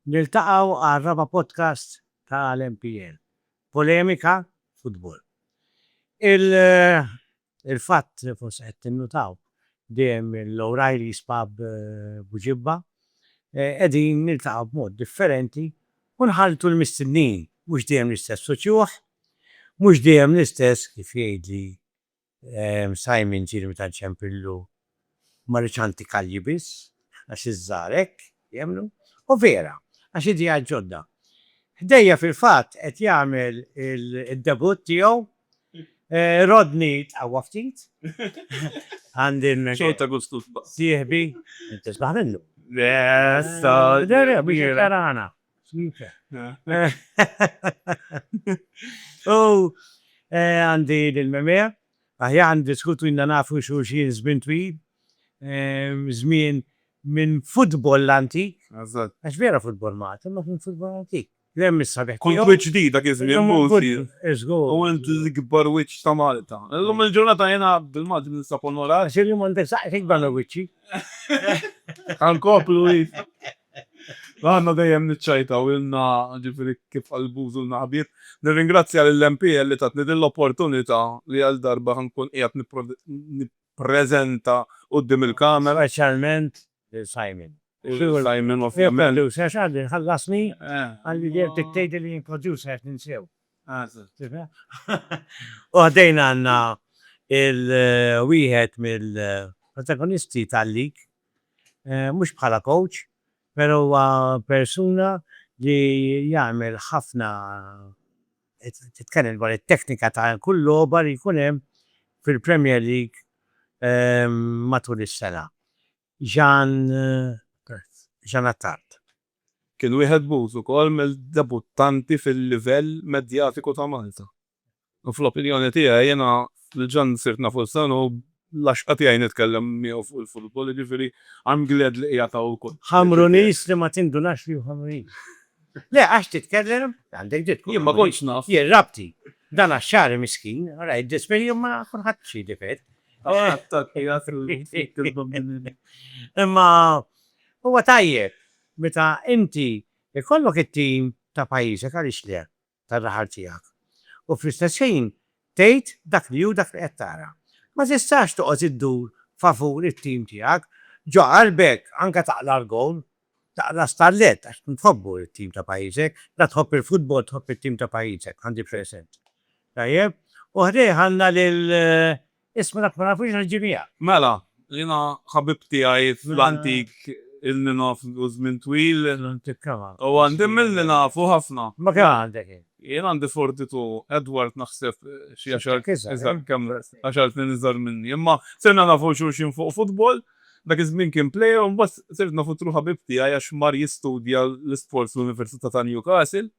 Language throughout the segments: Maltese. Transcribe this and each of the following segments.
Niltaqgħu għal raba' podcast tal-MPN. Polemika futbol. Il-fatt, forsi qed tinnutaw, dejjem l-O'Reilly's Pub Buġibba qegħdin niltaqgħu b'mod differenti u nħalltu l-mistednin, mhux dejjem l-istess uċuħ, mhux dejjem l-istess, kif jgħidli Simon ġieli meta nċempillu Ma rridx anti kalji biss għax iż-żgħar hekk jemmnu. U vera, għax ideat ġodda. Ħdejja fil-fatt qed jagħmel id-debutt tiegħu Rodney tqawwa ftit. Għandi sieħbi. Tisbaħ minnu. U għandi lill-Memè Aħjar niddiskutu ilna nafu xulxin żmien twil, żmien minn futbol l-antik, għax vera futbol Malti imma kien futbol antik, li hemm is-sabiħ tiegħu. Kont wiċċ ġdid dak iż-żmien Mursi u int l-ikbar wiċċ ta' Malta. Illum il-ġurnata jiena bil-Malti ninsab onorat. Għax illum għandek saqajk ikbar mill-wiċċi. Ħa nkomplu id. Għandna dejjem niċċajtaw ilna, ġifieri kif qal Bużu ilna ħbieb. Nirringrazzja lill-MPL li tatni din l-opportunità li għal darba ħa nkun qiegħed nippreżenta quddiem il-Kamera. Speċjalment lil Simon. U lil Simon ovvjament. Lil Simon għax għadni ħallasni għandi dejjem dik tgħidli li jien producer għax ninsew. U ħdejn għandna il-wieħed mill-protagonisti tal-lig. Mhux bħala kowċ, pero huwa persuna li jagħmel ħafna titkellem dwar it-teknika ta' kull logħba li jkun hemm fil-Premier League matul is-sena. Jean Jean Attard. Kien wieħed b'użu wkoll mill-debuttanti fil-livell medjatiku ta' Malta. U fl-opinjoni tiegħi jiena diġà sirt naf Ulsan u l-għaxqa tiegħi nitkellem miegħu fuq il-futbol, jiġifieri I'm glad li qiegħed hawn ukoll. Ħamruniż li ma tindunax li hu Ħamruniż. Le għax titkellem, għandek dritt tkun. Jien ma kontx naf. Jien rabti. Dan għax-Xagħri miskin, ara jiddisperi u ma kulħadd xi difett. Imma huwa tajjeb meta inti jkollok it-tim ta' pajjiżek għaliex le. tar-raħal tiegħek, u fl-istess ħin tgħid dak li hu dak li qed tara. Ma tistax toqgħod iddur favur it-tim tiegħek. Ġo qalbek anke taqla' l-gowl, taqla' stallett għax tkun tħobbu t-tim ta' pajjiżek. La tħobb il-futbol tħobb it-tim ta' pajjiżek, għandi present. Tajjeb? U ħdejh għandna lil Isma' dak ma nafux għax ġie miegħek. Mela, jiena ħabib tiegħi fl-antik il-ninof ilu żmien twil. L-antik kemm għandek? U għandi milli nafu ħafna. Imma kemm għandek int? Jien għandi 42, Edward naħseb xi għaxart iżgħar, kemm għaxart snin iżgħar minni. Imma sirna nafu xulxin fuq futbol, dak iż-żmien kien plejer u mbagħad sirt nafu through ħabib tiegħi għax mar jistudja l-isports fl-Università ta' Newcastle.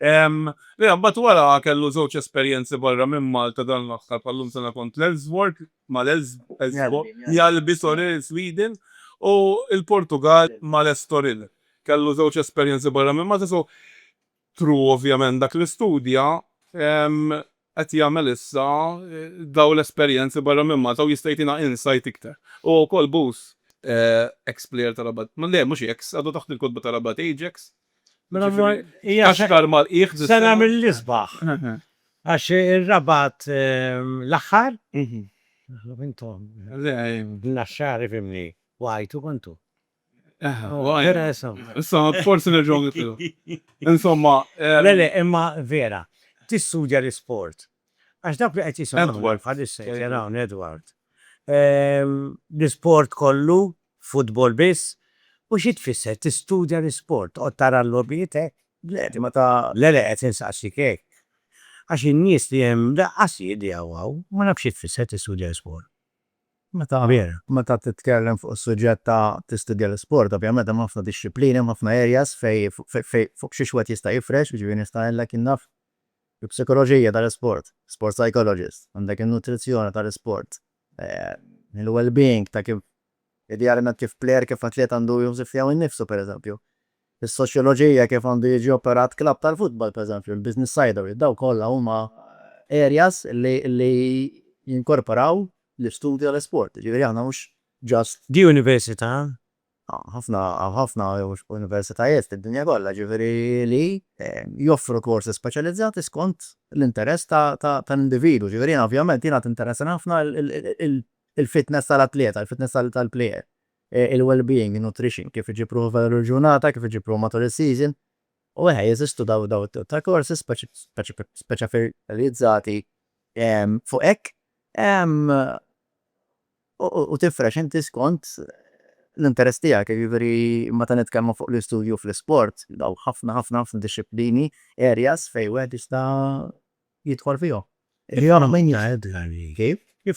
Le, mbagħad wara kellu żewġ esperjenzi barra minn Malta dan l-aħħar bħal-lum sena kont l-Elfsborg mal-Elfsborg, Mjallby sorry, Sweden, u l-Portugall mal-Estoril. Kellu żewġ esperjenzi barra minn Malta so true ovvjament dak li studja, qed jagħmel issa dawn l-esperjenzi barra minn Malta u jista' jtina insight iktar. Huwa wkoll bus. Ex plejer ta' Rabat. Le mhux ex, għadu taħt il-kotba ta' Rabat Ajax. Mela allura hija se. X'aktar mal-qiegħ. Sena mill-isbaħ. Għax ir-Rabat l-aħħar. Intom. Le. Naxxar ifhimni. Waqajtu kontu. Issa, forsi nerġgħu nitlu. Insomma. Le, le, imma vera, tistudja l-isport. Għax dak li qed jisimgħu. Edward. Bħalissa qed jara hawn Edward. L-isport kollu, futbol biss, u xi tfisser tistudja l-isport? Toqgħod tara l-logħbiet hekk? Le, imma ta. Le, le, qed insaqsik hekk. Għax in-nies li hemm lanqas jidhjaw hawn. Ma nafx xi tfisser tistudja l-isport. Meta veru, meta titkellem fuq is-suġġett ta' tistudja l-isport, ovvjament hemm ħafna dixxiplini, hemm ħafna areas fejn fejn fuq xiex wieħed jista' jifrex, jiġifieri nista' ngħidlek jien naf il-psikoloġija tal-isport, sport psychologist, għandek in-nutrizzjoni tal-isport, il-wellbeing ta' kif idealment kif plejer, kif atlet għandu jħoss tiegħu nnifsu pereżempju. Is-soċjoloġija, kif għandu jiġi operat klabb tal-futbol, pereżempju, l-business side of it, dawn kollha huma areas li jinkorporaw l-istudju tal-isport. Jiġifieri aħna mhux just. Di università? Hawn ħafna, hawn ħafna universitajiet fid-dinja kollha, jiġifieri li joffru korsi speċjalizzati skont l-interess tal-individwu. Jiġifieri jiena ovvjament jiena tinteressani ħafna il-fitness tal-atleta, il-fitness tal-plejer. il-wellbeing, in-nutrition, kif iġib ruħu f'din il-ġurnata, kif iġib ruħu matul is-season. U eħe, jeżistu dawn it-tip ta' korsi speċjalizzati fuq hekk u tifrex inti skont l-interess tiegħek. Jiġifieri meta nitkellmu fuq l-istudju fl-isport, hawn ħafna, ħafna, ħafna dixxiplini, areas, fejn wieħed jista' jidħol fihom. Kif? Kif?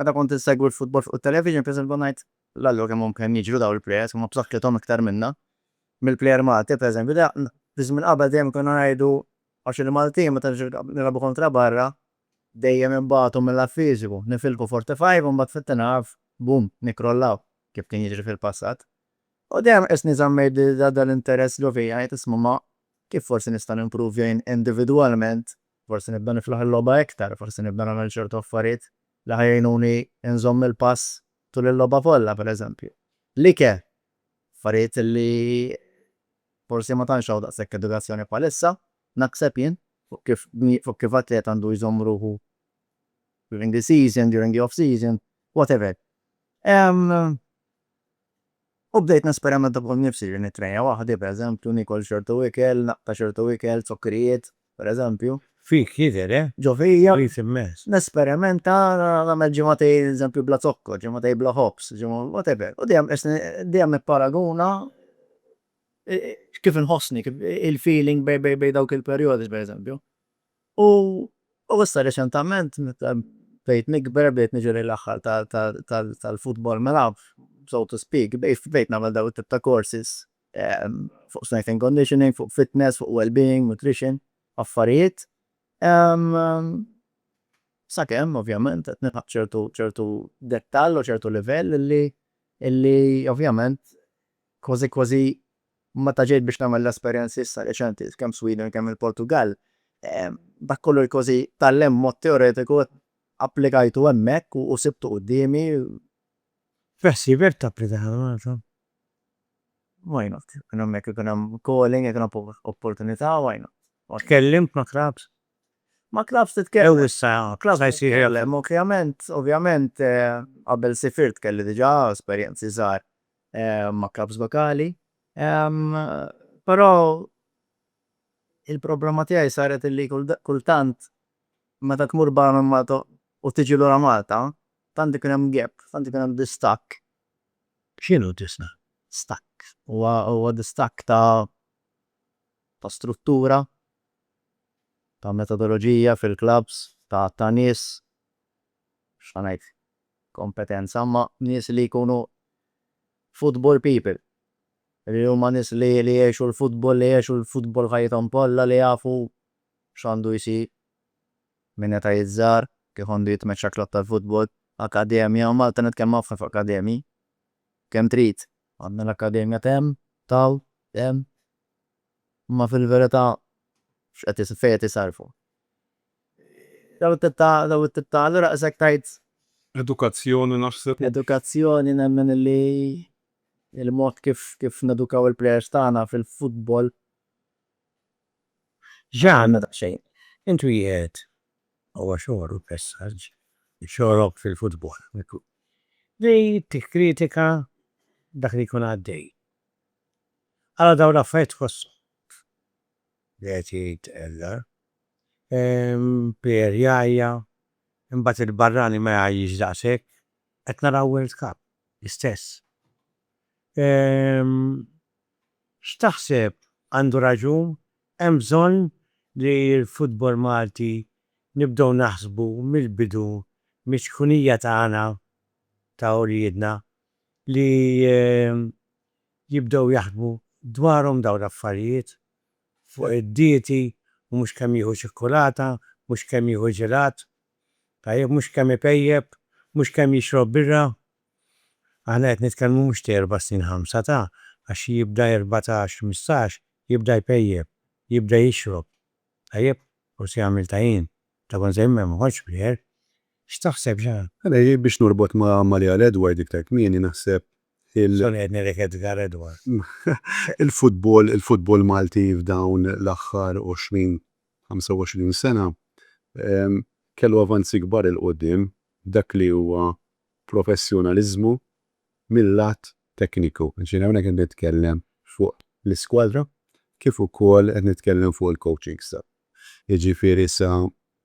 Meta kont insegwi l-futbol fuq it-television pereżempju kont ngħid, L-Alla hu kemm hum kemm jiġru dawn il-plejers, huma b'saħħithom iktar minna. Mill-plejer Malti pereżempju da fi żmien qabel dejjem konna ngħidu għax il-Maltin meta nilagħbu kontra barra dejjem inbatu mil-lat fiżiku, nifilħu forty five u mbagħad fit-tieni half boom nikkrollaw kif kien jiġri fil-passat. U dejjem qisni żammejt dal-interess ġo fija ngħid isma' ma kif forsi nista' nimpruvja jien individwalment Forsi nibda niflaħ il-logħba iktar, forsi nibda nagħmel ċertu affarijiet li ħa jgħinuni nżomm il-pass tul il-logħba kollha, pereżempju. L-ike, affarijiet li forsi ma tantx hawn daqshekk edukazzjoni bħalissa, naħseb jien, fuq kif fuq kif atlet għandu jżomm ruħu during the season, during the off season, whatever. Ehm. U bdejt nesperimenta fuq innifsi, ġieli nittrejna waħdi, pereżempju, niekol ċertu ikel, naqta' ċertu ikel, zokkrijiet, pereżempju. Fik jidher, eh? Ġo fija. Ħfif immens. Nesperimenta, nagħmel ġimgħatej, eżempju, bla zokkor, ġimgħatej bla ħobż, ġimgħa, whatever. U dejjem qisni, dejjem nipparaguna kif inħossni, kif il-feeling bejn dawk il-perjodi, pereżempju. U issa reċentament meta bdejt nikber bdejt niġi lejn l-aħħar tal-football mela so to speak bdejt nagħmel dawn it-tip ta' courses fuq strength and conditioning, fuq fitness, fuq well being, nutrition, affarijiet sakemm ovvjament qed nilħaq ċertu ċertu dettall u ċertu livell li li ovvjament kważi kważi Meta ġejt biex nagħmel l-esperjenzi issa reċenti, kemm Sweden kemm il-Portugall, dak kollu li kważi tgħallimt b'mod teoretiku applikajtu hemmhekk u sibtu quddiemi. Beħsiebek tapplika għal Malta? Why not? Jekk ikun hemm jekk ikun hemm calling, jekk ikun hemm opportunità, why not? Tkellimt ma' clubs? Ma' clubs titkellem. Jew issa, clubs se jsir hemm. Ovvjament, ovvjament, qabel sifirt kelli diġà esperjenzi żgħar ma' klabbs lokali, però il-problema tiegħi saret illi kultant meta tmur barra minn Malta u tiġi lura Malta, tant ikun hemm gap, tant ikun hemm distakk. X'inhu distakk? Huwa distakk ta' struttura, ta' metodoloġija fil-klabbs, ta' nies, x'ħa ngħid, kompetenza ma' nies li jkunu football people, li huma nies li jgħixu l-futbol, li għexu l-futbol ħajjithom kollha, li jafu x'għandu jsir minn età iż-żgħar, kif għandu jitmexxa klabb tal-futbol, akkademja, u Malta nitkellmu ħafna fuq akkademji, kemm trid. Għandna l-akkademja t'hemm, t'hawn, t'hemm, imma fil-verità x'qed fejn qed isarrfu? Dawn it-tip ta' dawn it-tip ta' allura qisek tgħid. Edukazzjoni naħseb u. Edukazzjoni nemmen li l-mod kif kif nedukaw il-plejers tagħna fil-futbol. X'għandna daqsxejn. Intu qiegħed huwa xogħlu l-messaġġ, xogħlok fil-futbol li tikkritika dak li jkun għaddej. Ara dawn l-affarijiet tħosshom. Qiegħed jgħid Eller. Ehm, Pier jgħajja, imbagħad il-barrani ma jgħajjix daqshekk. Qed naraw World Cup, l-istess. Ehm, x'taħseb, għandu raġun, hemm bżonn li l-futbol Malti nibdew naħsbu mill-bidu miċ-ċkunija tagħna, ta' uliedna, li jibdew jaħsbu dwarhom dawn l-affarijiet, fuq id-dieti u mhux kemm jieħu ċikkulata, mhux kemm jieħu ġelat, tajjeb, mhux kemm ipejjep, mhux kemm jixrob birra. Aħna qed nitkellmu mhux ta' erba' snin ħamsa ta', għax xi jibda erbatax, ħmistax, jibda jpejjep, jibda jixrob, tajjeb, forsi jagħmel tajin, Ta' kont se jmur m'ħoġġ b'ħier. X'taħseb xi. Mela jien biex norbot ma' Amalia għal Edward iktar kmieni naħseb il. Sorry qed ngħidlek Edgar Edward. Il-futbol il-futbol Malti f'dawn l-aħħar għoxrin, ħamsa u għoxrin sena kellu avanzi kbar 'il quddiem f'dak li huwa professjonaliżmu mil-lat tekniku. Jiġifieri hawnhekk qed nitkellem fuq l-iskwadra kif ukoll qed nitkellem fuq il-coaching staff. jiġifieri sa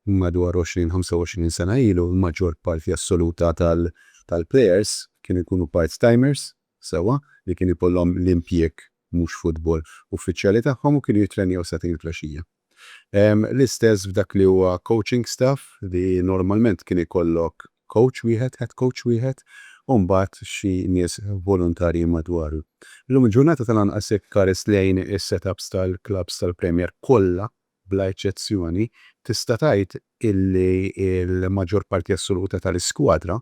madwar 20, 25 sena ilu, l-maġġor parti assoluta tal-plejers kienu jkunu part-timers, sewwa, li kien ikollhom l-impjieg mhux futbol uffiċjali tagħhom u kienu jittrenjaw sagħtejn il-flexxija. L-istess f'dak li huwa coaching staff li normalment kien ikollok kowċ wieħed, head coach wieħed, u mbagħad xi nies volontarji madwaru. Illum il-ġurnata tal-anqas jekk tħares lejn is-setups tal-klabbs tal-Premier kollha bla eċċezzjoni, tista' tgħid illi l-maġġor parti assoluta tal-iskwadra,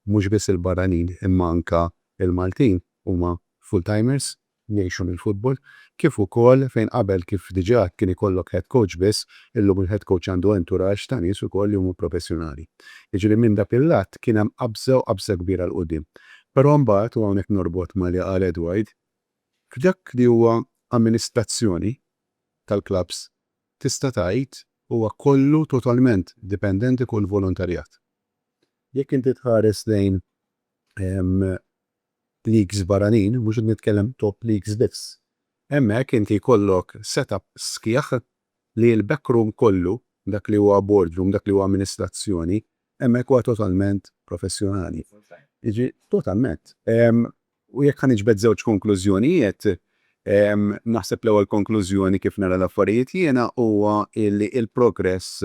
mhux biss il-barranin imma anke l-Maltin, huma full-timers, ngħixu mill-futbol, kif ukoll fejn qabel kif diġà kien ikollok head coach biss, illum il-head coach għandu entourage ta' nies ukoll li huma professjonali. Jiġifieri minn dak il-lat kien hemm qabża u qabża kbira 'l quddiem. Però mbagħad, u hawnhekk norbot ma' li qal Edward, f'dak li huwa amministrazzjoni tal-klabbs tista' tgħid huwa kollu totalment dipendenti fuq il-volontarjat. Jekk inti tħares lejn leagues barranin, mhux qed nitkellem top leagues biss, hemmhekk inti jkollok set-up sħiħ li l-backroom kollu, dak li huwa boardroom, dak li huwa amministrazzjoni, hemmhekk huwa totalment professjonali. Jiġifieri, totalment. U jekk ħa niġbed żewġ konklużjonijiet, naħseb l-ewwel konklużjoni kif nara l-affarijiet jiena huwa li l-progress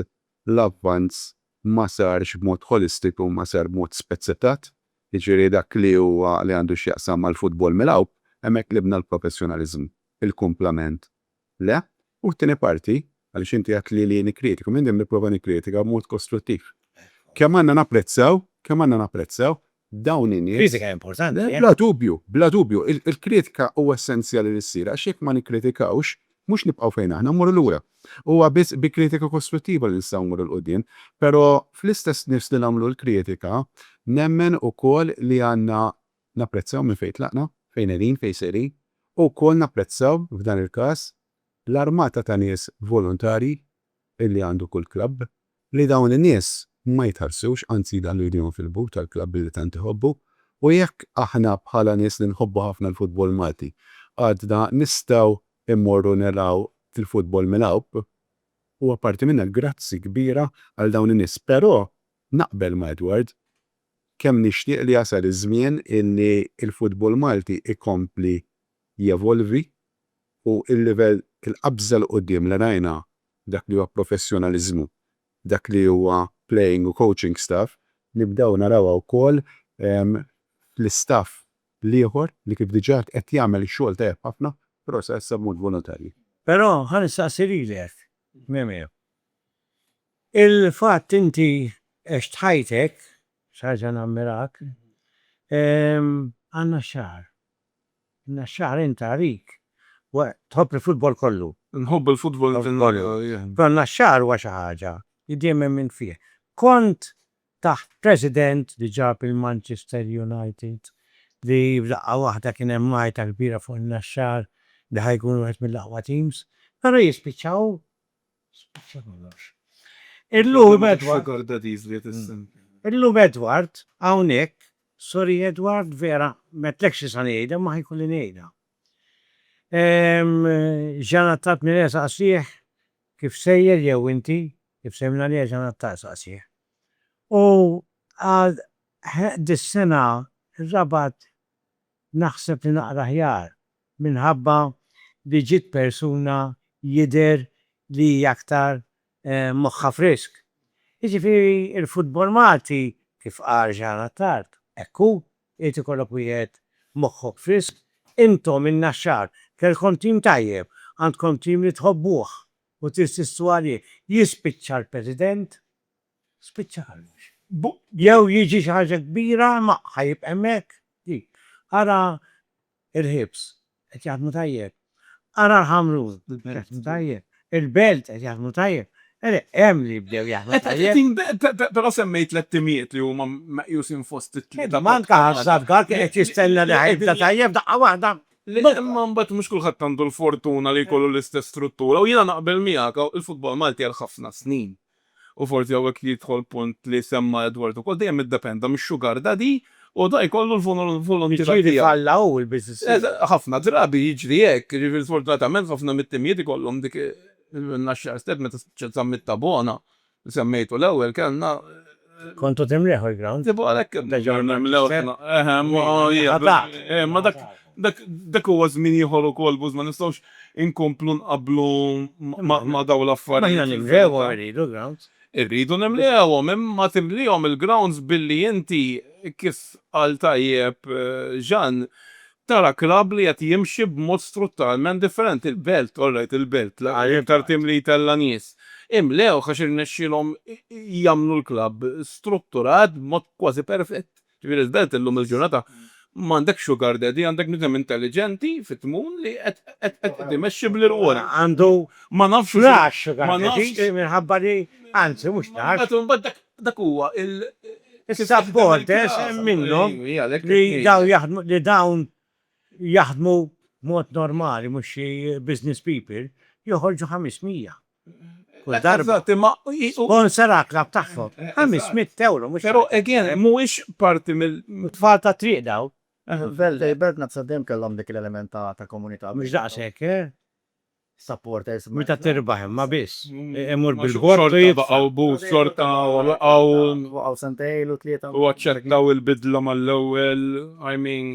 l-avvanz ma sarx b'mod ħolistiku, ma sar b'mod spezzettat, jiġifieri dak li huwa li għandu x'jaqsam mal-futbol milgħub, hemmhekk tlibna l-professjonaliżmu. Il-kumplament le. U t-tieni parti, għaliex inti għedt li li nikkritika, minn dejjem nipprova nikkritika b'mod kostruttiv. Kemm għandna napprezzaw, kemm għandna napprezzaw dawn in-nies. Kritika hija importanti. Bla dubju, bla dubju. Il-kritika huwa essenzjali li ssir għax jekk ma nikkritikawx, mhux nibqgħu fejn aħna, mmorru lura. Huwa biss bi kritika kostruttiva li nistgħu mmorru 'l quddiem. Però fl-istess nifs li nagħmlu l-kritika, nemmen ukoll li għandna napprezzaw minn fejn tlaqna, fejn qegħdin, fejn sejrin, u wkoll napprezzaw, f'dan il-każ, l-armata ta' nies volontarji li għandu kull klabb, li dawn in-nies ma jitħarsux, anzi jdaħħlu jdejhom fil-but tal-klabb li tant iħobbu, u jekk aħna bħala nies li nħobbu ħafna l-futbol Malti għadna nistgħu mmorru naraw il-futbol milgħub, huwa parti minna. Grazzi kbira għal dawn in-nies. Però naqbel ma' Edward, kemm nixtieq li jasal iż-żmien illi l-futbol Malti jkompli jevolvi u l-livell il-qabża 'l quddiem li rajna f'dak li huwa professjonaliżmu, f'dak li huwa playing u coaching staff, nibdew narawha wkoll fl-istaff l-ieħor li kif diġà għedt qed jagħmel xogħol tajjeb ħafna però sa issa b'mod volontarju. Però ħa nistaqsi lilek, Mimie, il-fatt inti għext ħajtek, xi ħaġa nammirak, għandna x-xahar, Inna xahrejn tarik wa tħobb il-futbol kollu. Inħobb il-futbol kollu. Però inna xahar huwa xi ħaġa li dejjem emmint fih. Kont taħt president li ġab il-Manchester United li f'daqqa waħda kien hemm għajta kbira fuq inna xahr li ħa jkun wieħed mill-aqwa teams. Però jispiċċaw Illum Edward hawnhekk, sorry Edward vera m'għedtlekx xi sa ngħidha imma ħa jkolli ngħidha. Jean Attard Milè saqsih kif sejjer jew inti kif sejjer mingħalija Jean Attard saqsih. U qal ħeh dis-sena r-Rabat naħseb li naqra aħjar Minħabba li ġiet persuna jidher li hi aktar moħħha frisk. Jiġifieri l-futbol Malti, kif qal Jean Attard, hekk hu, irid ikollok wieħed moħħok frisk. Intom, in-Naxxar, kellkom tim tajjeb, għandkom tim li tħobbuh u tinsistu għalih. Jispiċċa l-President, spiċċa kollox. Jew jiġi xi ħaġa kbira imma ħa jibqa' hemmhekk. Ara Il-ħiebs qed jaħdmu tajjeb. Ara l-Ħamrun qed jaħdmu tajjeb. Il-Belt qed jaħdmu tajjeb. Eleh, hemm li bdew jaħdmu tajjeb. Però semmejt tliet timijiet li huma meqjusin fost it-tlieta. Imma anke Ħaż-Żabba kien qed jistenna li ħajibda tajjeb daqqa waħda. Imma mbagħad mhux kulħadd għandu l-fortuna li jkollu l-istess struttura u jiena naqbel miegħek, il-futbol Malti għal ħafna snin u forsi hawnhekk jidħol punt li semma Edward ukoll, dejjem iddependa mix-sugar daddy u da jkollu l-volontira tiegħu. Jiġifieri falla hu l-business tiegħu. Ħafna drabi jiġri hekk, jiġifieri sfortunatament ħafna mit-timijiet ikollhom dik il-naxxar step meta spiċċa t-summit ta' Bona li semmejtu l-ewwel kellna Kontu timliħu l-ground? Iva għalhekk nerġgħu nimlew aħna. Eħe, imma hija dak. Imma dak dak dak huwa żmien ieħor ukoll Buz, ma nistgħux inkomplu nqabblu ma' dawn l-affarijiet. Imma aħna nimlewhom irridu l-grounds. Irridu nimlewhom, imma timliehom il-grounds billi inti kif qal tajjeb Jean, Tara klabb li qed jimxi b'mod strutturalment differenti. Il-Belt, all right, il-Belt, l-aktar tim li jtella' nies, imlewh għax irnexxielhom jagħmlu l-klabb strutturat b'mod kważi perfett. Ġifieri l-Belt illum il-ġurnata m'għandek sugar daddy, għandek bniedem intelliġenti fit-tmun li qed imexxi bl-irwol. Ma nafx. Narax sugar daddies minħabba li, anzi mhux narax. Imbagħad dak Dak huwa il. Is-supporters hemm minnhom li dawn jaħdmu li dawn jaħdmu b'mod normali mhux xi business people, joħorġu ħames mija kull darba. Eżatt, imma hi. Sponsor għall-klabb tagħhom. Ħames mitt ewro mhux. Però again, mhuwiex parti mill. Tfal tat-triq dawn. F'Belt Belt Naqsa dejjem kellhom dik l-element ta' komunità. Mhux daqshekk, eh? Meta tirbaħ imma biss. Imur bil-bord u jitfa'. Xorta baqgħu booth, xorta waqgħu. Waqgħu sentejn ilu, tlieta. U aċċettaw il-bidla mal-ewwel, I mean.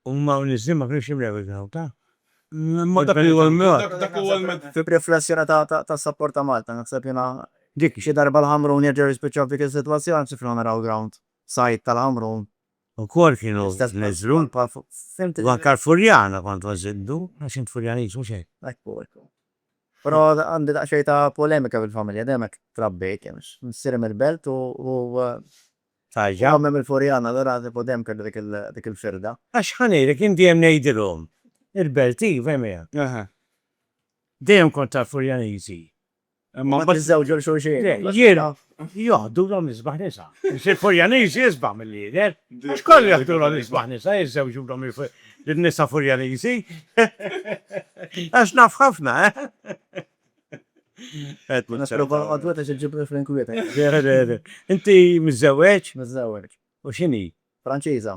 Huma u nies li ma kinux jimlew il-għaw ta'. Imma dak huwa l-mod. Dak huwa l-mod. B'riflessjoni ta' sapport ta' Malta, naħseb jiena. Dik xi darba l-Ħamrun jerġgħu jispiċċaw f'dik is-sitwazzjoni, nsifilhom naraw ground side tal-Ħamrun Ukoll kienu neżlu u anke l-Furjana kont nżiddu għax int Furjaniż mhux hekk? Hekk hu hekk hu. Però għandi daqsxejn ta' polemika fil-familja, dejjem hekk trabbejt jien għax missieri mill-Belt u u ommi mill-Furjana allura tipo dejjem kelli dik il dik il-firda. Għax ħa ngħidlek jien dejjem ngħidilhom il-Belt iva imma dejjem kont tal-Furjaniżi. U meta jiżżewġu 'l xulxin. Jiena, joħdulhom l-isbaħ nisa. Missier Furjaniż jisbaħ milli jidher. Għax kollu joħdulhom l-isbaħ nisa, jiżżewġulhom lin-nisa Furjaniżi. Għax naf ħafna, eh? Nisprova nqogħdwet għax iġġibni fl-inkwieta. Inti miżżewweġ? Miżżewweġ. U x'inhi? Franċiża.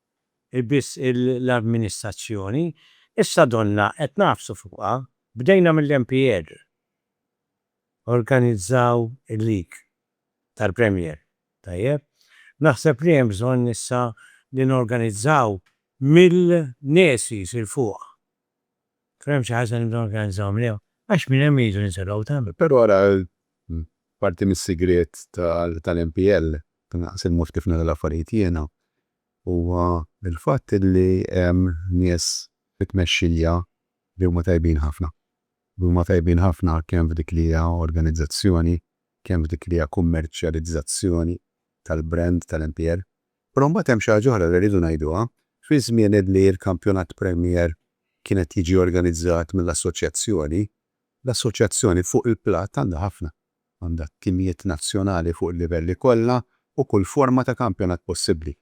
hi biss l-amministrazzjoni. Issa donnha qed nagħfsu fuqha. Bdejna mill-MPL. Organizzaw il-League tal-Premier, tajjeb? Naħseb li hemm bżonn issa li norganizzaw mill-Għnesis 'il fuq. Kien hemm xi ħaġa li nibdew norganizzaw minnha għax minn hemm iridu ninżlu l-awtan. Però ara parti mis-sigriet tal-MPL, naqsin mod kif nara l-affarijiet jiena, huwa l-fatt li hemm nies fit-tmexxija li huma tajbin ħafna. Li huma tajbin ħafna kemm f'dik li hija organizzazzjoni, kemm f'dik li hija kummerċjalizzazzjoni tal-brand tal-MPL. Però mbagħad hemm xi ħaġa oħra li rridu ngħiduha, fi żmien li l-kampjonat Premier kien qed jiġi organizzat mill-Assoċjazzjoni, l-Assoċjazzjoni fuq il-platt għandha ħafna. Għandha t-timijiet nazzjonali fuq il-livelli kollha u kull forma ta' kampjonat possibbli.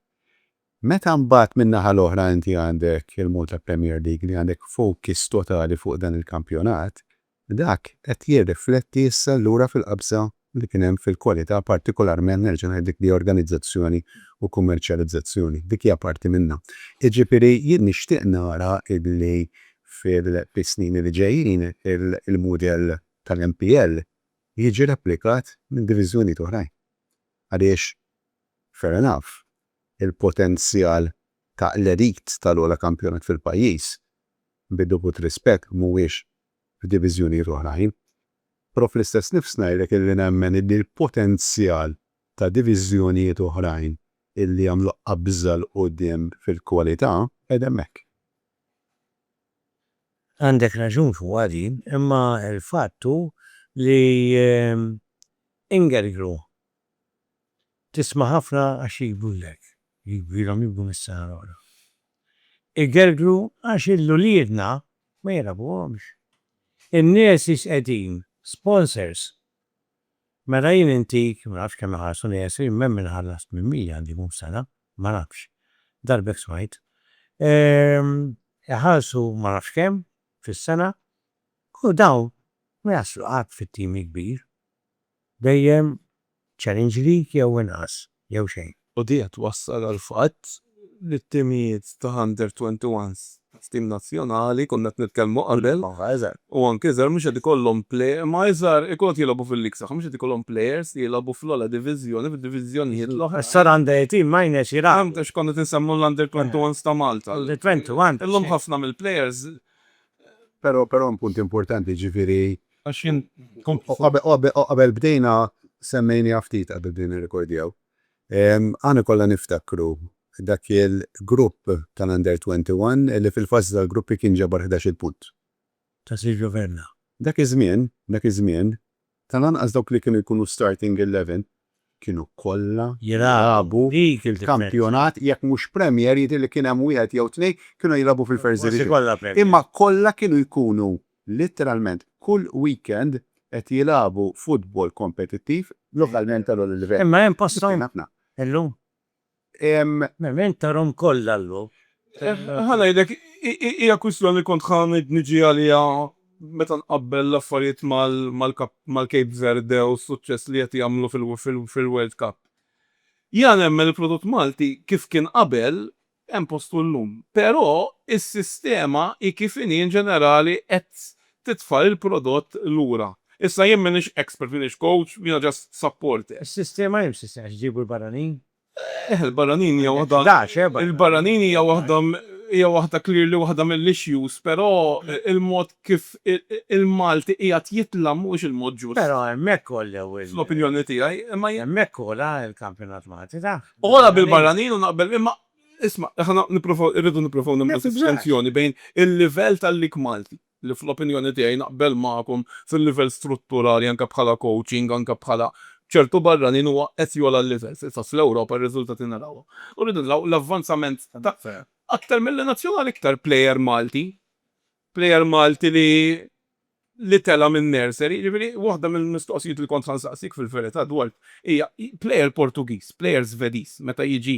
Meta mbagħad min-naħa l-oħra inti għandek il-Malta Premier League li għandek focus totali fuq dan il-kampjonat, Dak qed jirrifletti issa allura fil-qabża li kien hemm fil-kwalità partikolarment, nerġa' ngħid, dik li organizzazzjoni u kummerċjalizzazzjoni. Dik hija parti minnha. Jiġifieri jien nixtieq nara illi fis-snin li ġejjin il-mudell tal-MPL jiġi replikat minn diviżjonijiet oħrajn. Għaliex, fair enough, il-potenzjal ta' l-elite tal-ogħla kampjonat fil-pajjiż bid-dovut rispett, mhuwiex f'diviżjonijiet oħrajn, però fl-istess nifs ngħidlek illi nemmen illi l-potenzjal ta' diviżjonijiet oħrajn illi jagħmlu qabża 'l quddiem fil-kwalità qiegħed hemmhekk. Għandek raġun fuqha din, imma l-fatt hu li Ingelgru Tisma' ħafna għax jgidbulek, jgidbilhom jibku mis-sena l-oħra. Igergru għax il-uliedna ma jilagħbuhomx. In-nurses qegħdin, sponsors. Mela jien intik, ma nafx kemm iħallsu nursery, imma hemm min iħallas 800 għandu jkun f'sena, ma nafx, darb'hekk smajt. Iħallsu ma nafx kemm fis-sena u dawn ma jaslu qatt fit-team il-kbir. Dejjem challenge league jew inqas jew xejn. U din qed twassal għall-fatt li t-timijiet ta' under twenty ones f'tim nazzjonali, konna qed nitkellmu qabel, u anke iżgħar mhux qed ikollhom play, imma iżgħar ikunu qed jilgħobu fil-league tagħhom, mhux qed ikollhom players li jilgħobu fl-ogħla diviżjoni, fid-diviżjonijiet l-oħra. Issa l-under eighteen minors jilagħbu. Fhemt għax konna qed insemmu l-under twenty ones ta' Malta. Under twenty ones. Illum ħafna mill-players. Però hemm punt importanti, jiġifieri Għax jien kont. U qabel bdejna semmejniha ftit qabel bdejna nirrekordjaw. Aħna kollha niftakru dak il-grupp tal-Under 21 li fil-fażi tal-gruppi kien ġabar ħdax-il punt. Ta' Silvio Vernà. Dak iż-żmien, dak iż-żmien, tal-anqas dawk li kienu jkunu starting eleven kienu kollha jilagħbu fil-kampjonat jekk mhux Premier jidhirli kien hemm wieħed jew tnejn kienu jilagħbu fil-First Division. Imma kollha kienu jkunu Litteralment kull weekend qed jilagħbu futbol kompetittiv lokalment ta' l-ogħla livell. Imma hemm posthom illum? Hemm interim kollha llum. Ħa ngħidlek, hija kwistjoni li kont ħa niġi għaliha meta nqabbel l-affarijiet mal-Cape Verde u s-suċċess li qed jagħmlu fil-World Cup. Jiena nemmen li l-prodott Malti kif kien qabel hemm postu llum. Però is-sistema hi kif inhi in ġenerali qed titfa' lill-prodott lura. Issa jien m'iniex expert, m'iniex coach, jiena just supporter. Is-sistema hi msissna għax iġibu l-barranin? Eh, il-barranin hija waħda. Għandek 11 eh, barranin. Il-barranin hija waħda hija waħda clearly waħda mill-issues, però il-mod kif il-Malti qiegħed jitla' mhuwiex il-mod ġust. Però hemmhekk għollew il. Fl-opinjoni tiegħi, imma jien. Hemmhekk għola l-kampjonat Malti taf. Oħra bil-barranin u naqbel imma isma' aħna nipprovaw irridu nipprovaw nagħmlu distinzjoni bejn il-livell tal-lig Malti li fl-opinjoni tiegħi naqbel magħkom fil-livell strutturali anke bħala coaching anke bħala ċertu barranin huwa qed jogħla l-livell fil-fatt fl-Ewropa r-riżultati narawhom. U rridu naraw l-avvanzament ta' aktar mill-nazzjonali iktar plejer Malti Plejer Malti li li tela' minn nursery, jiġifieri waħda mill-mistoqsijiet li kont ħa nsaqsik fil-verità dwar hija plejer Portugiż, plejer Żvediż meta jiġi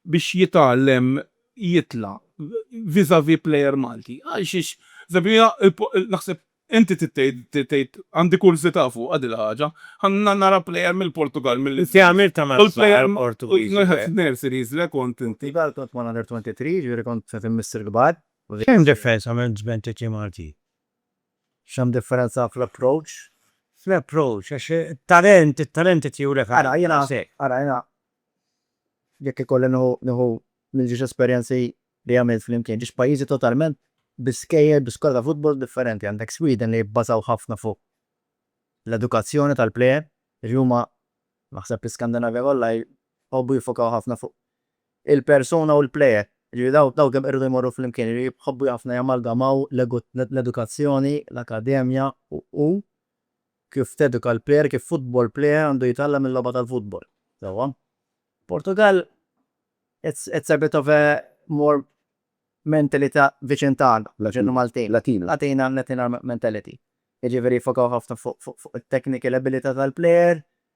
biex jitgħallem jitla' vis-à-vis plejer Malti. Għal xiex naħseb inti trid tgħid tgħid għandi kurżità fuqha din il-ħaġa. Ħa nara plejer mill-Portugall mill Inti għamiltha ma' plejer Portugiż. Nurseries le kont inti. Portugall kont mal-Under 23, jiġifieri kont qed immiss il-kbar. X'hemm differenza minn żmien titjiem għal tjiem? X'hemm differenza fl-approach? Fl-approach, għax it-talent, it-talent irid jurek għal nafsek. Ara, jiena, ara, jiena jekk ikolli nieħu, nieħu mill-ġiex esperjenzi li għamilt flimkien, ġiex pajjiżi totalment bi skejjel, bi skola ta' futbol differenti. Għandek Sweden li jibbażaw ħafna fuq l-edukazzjoni tal-plejer, jiġifieri huma, naħseb l-Iskandinavja kollha jħobbu jiffokaw ħafna fuq il-persuna u l-plejer. Jiġifieri daw daw kemm irridu jmorru flimkien, jiġifieri jħobbu ħafna jamalgamaw l-edukazzjoni, l-akademja u kif teduka l-plejer, kif futbol plejer għandu jitgħallem il-logħba tal-futbol. Sewwa? Portugall it's it's a bit of a more mentalita' viċin tagħna, viċin Maltin. Latina. Latina Latina mentality. Jiġifieri jiffokaw ħafna fuq fuq fuq it-technical ability tal-plejer,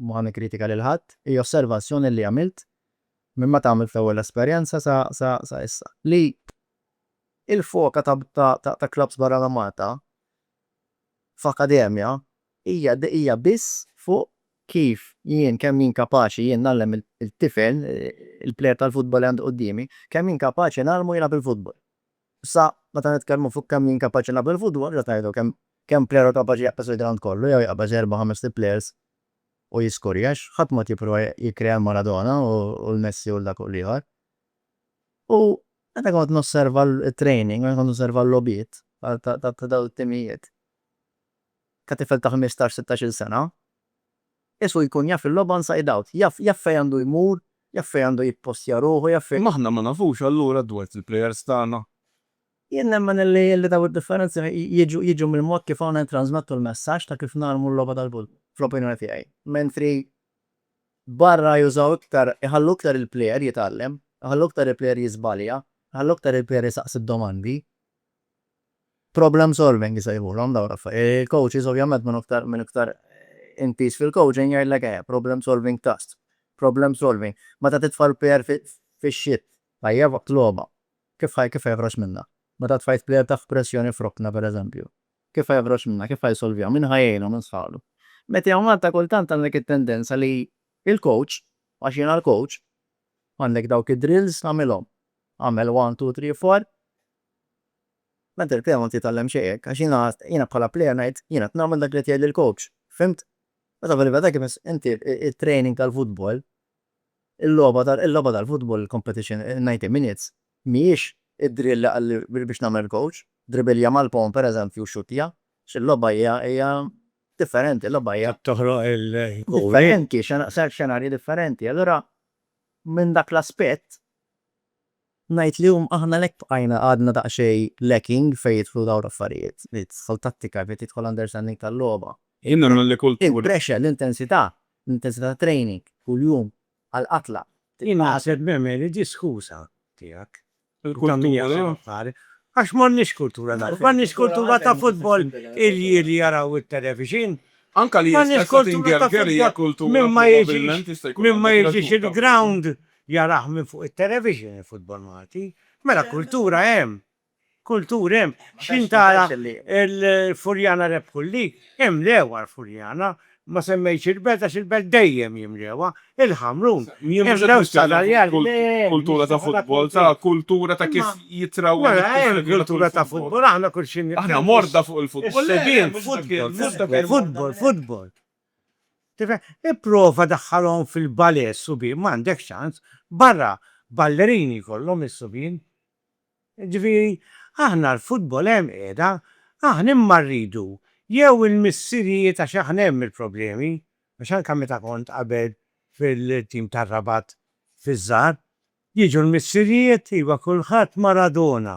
Ma nikkritika lil ħadd, hi osservazzjoni li għamilt minn meta għamilt l-ewwel esperjenza sa sa sa issa, li l-foka ta ta ta clubs barra minn Malta f'akademja hija hija biss fuq kif jien, kemm jien kapaċi jien ngħallem il-tifel, il-plejer tal-futbol li għandi quddiemi, kemm jien kapaċi ngħallmu jilgħab il-futbol. Issa, meta nitkellmu fuq kemm jien kapaċi nilgħab il-futbol, x'qed ngħidu? Kemm, kemm plejer hu kapaċi jaqbeż il-grawnd kollu jew jaqbeż erba' ħamest il-plejers u jiskurja? Għax ħadd m'qed jipprova jikkrea l-Maradona u l-Messi u 'l dak u 'l ieħor. U meta kont nosserva t-training, meta kont nosserva l-logħbiet ta' dawn it-timijiet, ta' tifel ta' ħmistax, sittax-il sena, Jesù jkun jaf il-logħba inside out. Jaf, jaf fejn għandu jmur, jaf fejn għandu jippostja ruħu, jaf fejn. Imma aħna ma nafux allura dwart il-plejers tagħna? Jien nemmen illi, illi dawn id-differenzi jiġu, jiġu mill-mod kif aħna nittrażmettu l-messaġġ ta' kif nagħlmu l-logħba tal-Bull, fl-opinjoni tiegħi. Mentri barra jużaw iktar, iħallu iktar il-plejer jitgħallem, iħallu iktar il-plejer jiżbalja, iħallu iktar il-plejer isaqsi d-domandi. Problem solving isejħulhom dawn l-affarijiet. Il-coaches ovvjament minn iktar minn iktar intiż fil-coaching jgħidlek eħe, problem solving task, problem solving. Meta titfa' l-player fix-shit tajjeb waqt logħba, kif ħa kif ħa joħroġ minnha? Meta tfajt player taħt pressjoni f'rokna pereżempju, kif ħa joħroġ minnha, kif ħa jsolviha, min ħa jgħinu, min sħaqlu? Meta jew Malta kultant għandek it-tendenza li il-coach, għax jiena l-coach, għandek dawk id-drills, għamilhom. Agħmel one, two, three, four. Meta l-player m'għandu jitgħallem xejn hekk, għax jiena, jiena bħala player ngħid, jiena qed nagħmel dak li qed jgħidli l-coach. Fhimt? Meta fil-verità kif ins, inti t-training tal-futbol, il-logħba tal, il-logħba tal-futbol, il-competition, in-ninety minutes, mhijiex id-drill li qal li biex biex nagħmel il-coach, dribilja mal-pon pereżempju u xuttja, għax il-logħba hija, hija differenti, il-logħba hija. Trid toħloq il-goal. Differenti, xena, xenarji differenti. Allura minn dak l-aspett. Ngħid li llum aħna għalhekk bqajna għadna daqsxejn lacking fejn jidħlu dawn l-affarijiet. Fejn tidħol tattika, fejn tidħol understanding tal-logħba. Jien nemmen li kull. Il-pressure, l-intensità, l-intensità tat-training kuljum għall-qatla. Jien naħseb nemmen li di skuża tiegħek. Il-kultura. Għax m'għandniex kultura ta' m'għandniex kultura ta' futbol irjieħ li jaraw it-televixin. Anke li jista' jkun. M'għandniex kultura ta' futbol. Min ma jiġix, min ma jiġix il-ground Jarah minn fuq it-television il-futbol Malti. Mela kultura hemm. Kultur hemm. X'ħin tara l-Furjana rebħu l-lig, imlewha l-Furjana. Ma semmejtx il-Belt għax il-Belt dejjem jimlewha. Il-Ħamrun imlew s-Sadarjali. Le, mhix kultura ta' futbol. Kultura ta' futbol, ta' kultura ta' kif jitrawwem il-futbol. Mela hemm kultura ta' futbol, aħna kull xi. Aħna morda fuq il-futbol. Le, le, mhux dak il-futbol. Futbol, futbol. Tifhem? Ipprova daħħalhom fil-ballet subien, m'għandek ċans, barra ballerini jkollhom is-subien. Jiġifieri, aħna l-futbol hemm qiegħda, aħna imma rridu jew il-missirijiet għax aħna hemm il-problemi, għax anke meta kont qabel fil-tim tar-Rabat fiż-żgħar, jiġu l-missirijiet, iva kulħadd Maradona,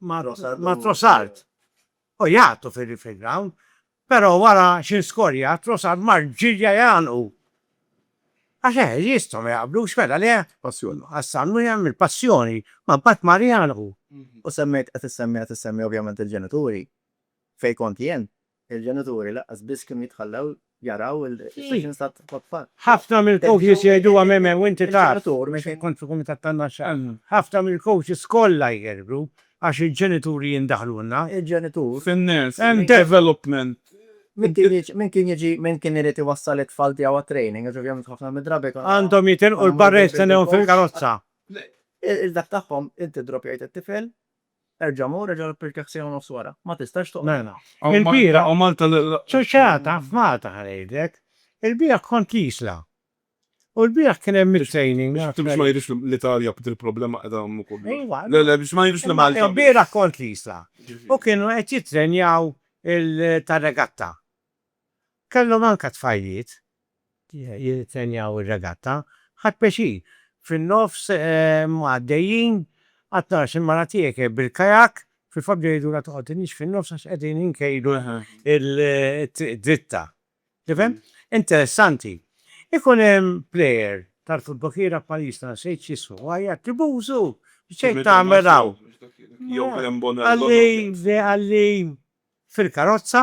ma' Trossard u jgħatu fil-round pero wara xi skorja Trossard mar ġirja jgħannqu għax eħe jistgħu ma jaqblux mela le Ghassan wieħed mill-passjoni ma mbagħad mar jgħannqu. U semmejt qed issemmi qed issemmi ovvjament il-ġenituri fejn kont jien Il-ġenituri lanqas biss kienu jitħallew jaraw il-sessions tat-tfal. Ħafna mill-coaches jgħiduha Meme u inti taf. Xejn kontra l-kumitat tan-naxxa. Ħafna mill-coaches kollha jghergru għax il-ġenituri jindaħlulna. Il-ġenitur. Fin-nurse. Hemm development. Min kien jiġi, min kien irid iwassal it-tfal tiegħu għat-training, għax ovvjament ħafna mid-drabi konna. Għandhom jitilqu l-barra jistennewhom fil-karozza. Il-dak tagħhom, inti ddroppjajt it-tifel, Erġa' mur, erġa' rippikkjah siegħa u nofs wara. Ma tistax toqgħod. Il-bieraħ. U Malta li. Ċuċċata f'Malta ħa ngħidlek. Il-bieraħ kont l-Isla. U l-bieraħ kien hemm it-training. Biex ma jidhirx li l-Italja il-problema qiegħda hemm ukoll. Ejwa. Le, le, biex ma jidhirx li Malta. Il-bieraħ kont l-Isla. U kienu qed jittrenjaw il-tar-regatta. Kellhom anke tfajliet jittrenjaw ir-regatta. Ħadt pjaċir. Fin-nofs huma għaddejjin, qatt narax il-mara tiegħek hi bil-kajak, fil-fatt jgħidulha toqgħod inhiex fin-nofs għax qegħdin inkejlu t-triq dritta. Tifhem? Interessanti. Ikun hemm plejer tal-futbol kierak pajjiżna, nsejt x'ismu, u jgħajjat, Tribuzu! X'qed tagħmel hawn? Qalli, qalli, fil-karozza,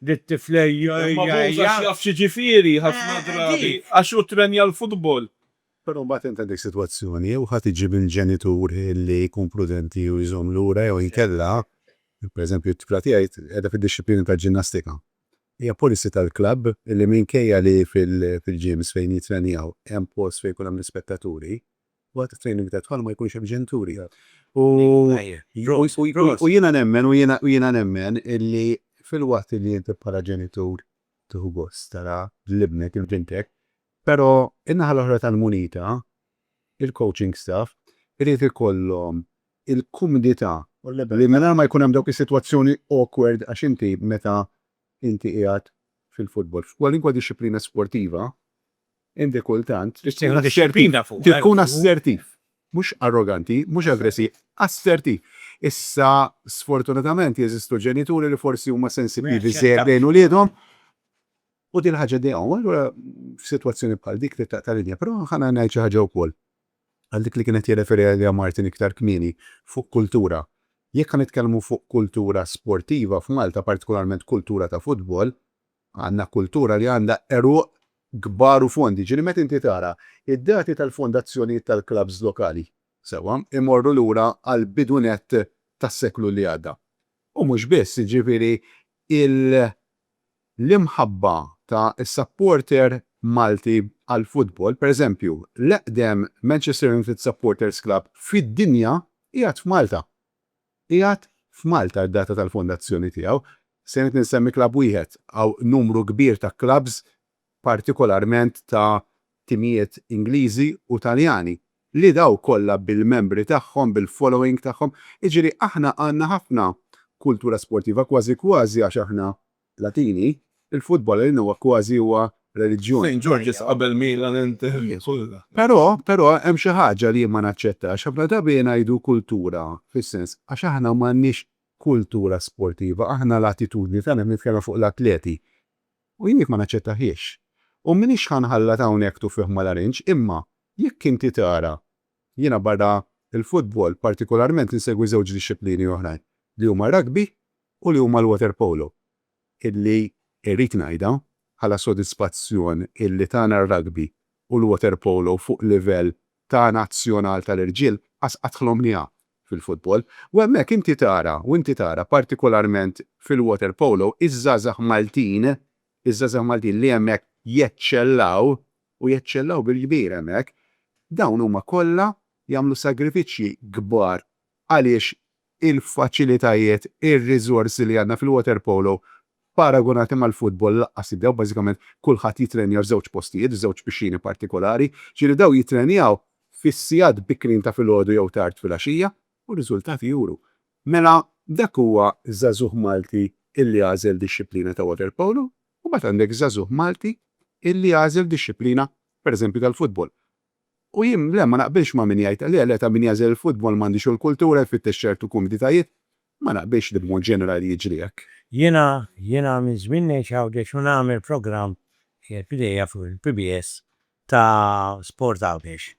dit-tifla hija hija hija. Imma Boza x'jaf x'jiġifieri ħafna drabi għax hu ttrenja l-futbol. Però mbagħad int għandek sitwazzjoni jew ħadd iġi minn ġenitur li jkun prudenti u jżomm lura jew inkella, pereżempju t-tifla tiegħi qiegħda fid-dixxiplina tal-ġinnastika. Hija policy tal-klabb li minkejja li fil-gyms fejn jittrenjaw hemm post fejn jkun hemm l-ispettaturi, Waqt it-training tat-tfal ma jkunx hemm ġenituri. U u jiena nemmen u jiena u jiena nemmen illi filwaqt illi inti bħala ġenitur tieħu gost tara lil ibnek jew bintek, però in-naħa l-oħra tal-munita, il-coaching staff irid ikollhom il-kumdità li mingħajr ma jkun hemm dawk is-sitwazzjoni awkward għax inti meta inti qiegħed fil-futbol, f'kwalunkwe dixxiplina sportiva, Inti kultant trid tkun assertiv. Mhux arroganti, mhux aggressiv, assertiv. Issa sfortunatament jeżistu ġenituri li forsi huma sensittivi żejjed lejn uliedhom u din il-ħaġa ddejqhom. U allura f'sitwazzjoni bħal dik trid taqta' linja. Però ħa ngħid xi ħaġa wkoll għal dik li kien qed jirreferi għaliha Martin iktar kmieni fuq kultura. Jekk ħa nitkellmu fuq kultura sportiva f'Malta, partikolarment kultura ta' futbol, Għandna kultura li għandha għeruq kbar u fondi, ġieli meta inti tara d-dati tal-fondazzjonijiet tal-klabbs lokali, sewwa, imorru lura għall-bidu nett tas-seklu li għadda. U mhux biss, jiġifieri l-imħabba ta' is-supporter Malti għall-futbol, per eżempju, l-eqdem Manchester United Supporters Club fid-dinja qiegħed f'Malta. Qiegħed f'Malta d-data tal-fondazzjoni tiegħu. Se ngħid insemmi klabb wieħed, hawn numru kbir ta' klabbs partikolarment ta' timijiet Ingliżi u Taljani li dawn kollha bil-membri tagħhom, bil-following tagħhom. Jiġifieri aħna għandna ħafna kultura sportiva, kważi kważi għax aħna Platini, Il-futbol għalina huwa kważi huwa reliġjon. Saint George's qabel Milan, Inter, kollha. Però, però, hemm xi ħaġa li jien ma naċċettax. Ħafna drabi ngħidu kultura, fis-sens, għax aħna m'għandniex kultura sportiva, aħna l-attitudni tagħna qed nitkellem fuq l-atleti. U jien dik ma naċċettahiex. U m'iniex ħa nħallat hawnhekk tuffiħ mal-arinġ, imma jekk inti tara, jiena barra l-futbol partikolarment insegwi żewġ dixxiplini oħrajn, li huma r-rugby u li huma l-waterpolo, illi irrid ngħidha bħala sodisfazzjon illi tagħna r-rugby u l-waterpolo fuq livell ta' nazzjonal tal-irġiel qas qatt ħlomniha fil-futbol. U hemmhekk inti tara, u inti tara partikolarment fil-waterpolo iż-żgħażagħ Maltin, iż-żgħażagħ Maltin li hemmhekk jeċċellaw, u jeċċellaw bil-kbir hemmhekk, dawn huma kollha jagħmlu sagrifiċċji kbar għaliex il-faċilitajiet, ir-riżorsi li għandna fil-waterpolo paragunati mal-futbol lanqas jibdew, bażikament kulħadd jittrenja f'żewġ postijiet, f'żewġ pixxini partikolari, jiġifieri dawn jittrenjaw fis-sigħat bikrin ta' filgħodu jew tard filgħaxija u r-riżultati juru. Mela dak huwa żagħżugħ Malti illi għażel dixxiplina ta' waterpolo u mbagħad għandek żagħżugħ Malti illi għażel dixxiplina, pereżempju tal-futbol. U jien, le, ma naqbilx ma' min jgħid, le, le, ta' min jagħżel il-futbol m'għandix u l-kultura jfittex ċertu kumditajiet, ma naqbilx li b'mod ġenerali jiġri hekk. Jiena, jiena minn żmien ngħix Għawdex u nagħmel programm, qiegħed b'idejja fuq il-PBS, ta' Sport Għawdex.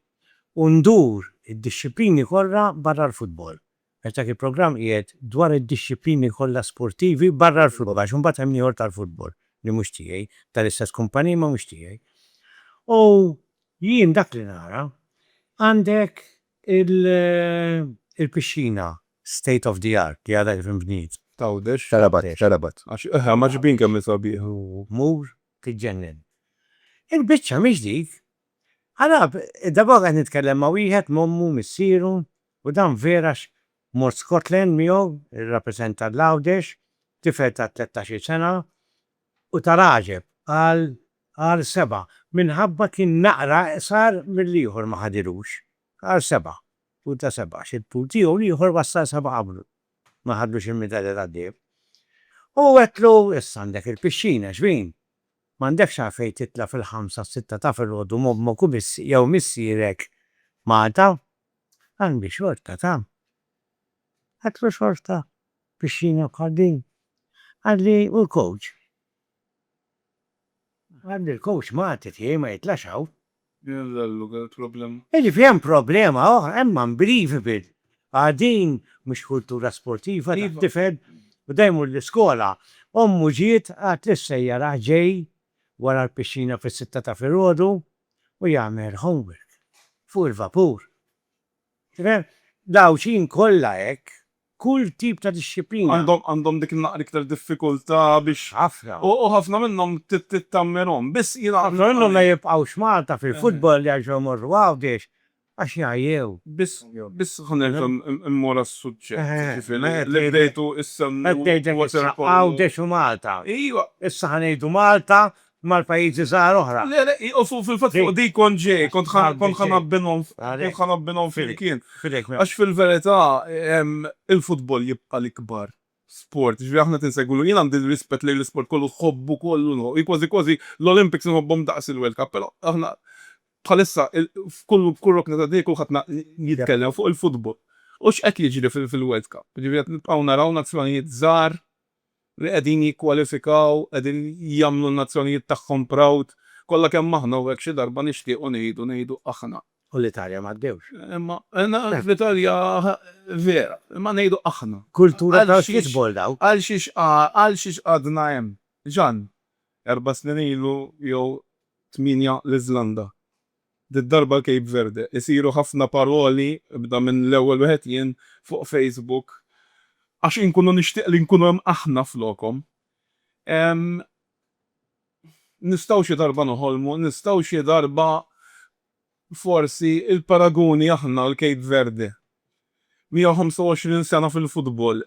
U ndur id-dixxiplini kollha barra l-futbol. Dak il-programm qiegħed dwar id-dixxiplini kollha sportivi barra l-futbol, għax imbagħad hemm ieħor tal-futbol li mhux tiegħi, tal-istess kumpanija imma mhux tiegħi. U jien dak li nara, għandek il-pixxina state of the art li għadha kif inbniet. T'Għawdex? Ta' Rabat, ta' Rabat. Għax aħna mgħaġġbin kemm hi sabiħa. Tmur tiġġennen. Il-biċċa mhix dik. Ara, darba oħra qed nitkellem ma' wieħed m'ommu, missieru, U dan vera għax mort Scotland miegħu jirrappreżenta l-Għawdex, tifel ta' tlettax-il sena u tal-għaġeb qal għal sebgħa minħabba kien naqra iqsar mill-ieħor ma ħadilux. Qal sebgħa, tul ta' sebgħa għax it-tul tiegħu l-ieħor wassal sebgħa qablu. Ma ħadlux il-midalja tad-deheb. U għedtlu, issa għandek il-pixxina, xbin? M'għandekx għalfejn titla' fil-ħamsa s-sitta ta' filgħodu m'ommok u jew missierek Malta? Għandi xorta ta. Għadlu xorta pixxina bħal din? Għadli u l-coach? Għadli l-coach Malti tiegħi ma jitlax hawn? Din il-llu kienet problema. Jiġifieri hemm problema oħra, hemm unbelievable. Għad din mhux kultura sportiva tat-tifel u da jmur l-iskola. Ommu ġiet, qalet lis-sejjaraħ ġej wara l-pixxina fis-sitta ta' filgħodu u jagħmel homework fuq il-vapur. Tifhem? L-Għawdxin kollha hekk, kull tip ta' dixxiplina. Għandhom dik naqra iktar diffikultà biex. Ħafna. U ħafna minnhom tittammirhom. Biss jiena. Ħafna minnhom ma jibqgħux Malta fil-futbol jerġgħu jmorru Għawdex Għax jgħajjew. Biss, biss ħa nerġa' mmur għas-suġġett, jiġifieri li bdejtu issemmu waterpolo. Qed ngħidlek issa, Għawdex u Malta. Ejwa. Issa ħa ngħidu Malta mal-pajjiżi żgħar oħra. Le, le, u fil-fatt fuq dik kont ġej, kont ħa ngħabbinhom, kont ħa ngħabbinhom flimkien. Għax fil-verità, il-futbol jibqa' l-ikbar sport. Jiġifieri aħna qed insegwulu. Jien għandi rispett lejn l-isport kollu, nħobbu kollu, hi kważi kważi l-Olympics inħobbhom daqs il-World Cup, però aħna bħalissa f'kull f'kull rokna tad-dinja kulħadd na jitkellem fuq il-futbol u x'qed jiġri fil-World Cup. Jiġifieri qed nibqgħu naraw nazzjonijiet żgħar li qegħdin jikkwalifikaw, qegħdin jagħmlu n-nazzjonijiet tagħhom proud. Kollha kemm aħna u hekk xi darba nixtiequ ngħidu ngħidu aħna. U l-Italja m'għaddewx. Imma fl-Italja vera, imma ngħidu aħna. Kultura tal-football daw. Għal xiex għal xiex għadna hemm? Ġann, erba' snin ilu jew tmienja l-Iżlanda. Did-darba l-Cape Verde. Isiru ħafna paroli, ibda minn l-ewwel wieħed jien, fuq Facebook, għax inkunu nixtieq li nkunu hemm aħna flokhom. Hemm Nistgħu xi darba noħolmu, nistgħu xi darba forsi l-paraguni aħna u l-Cape Verde, 125 sena fil-futbol,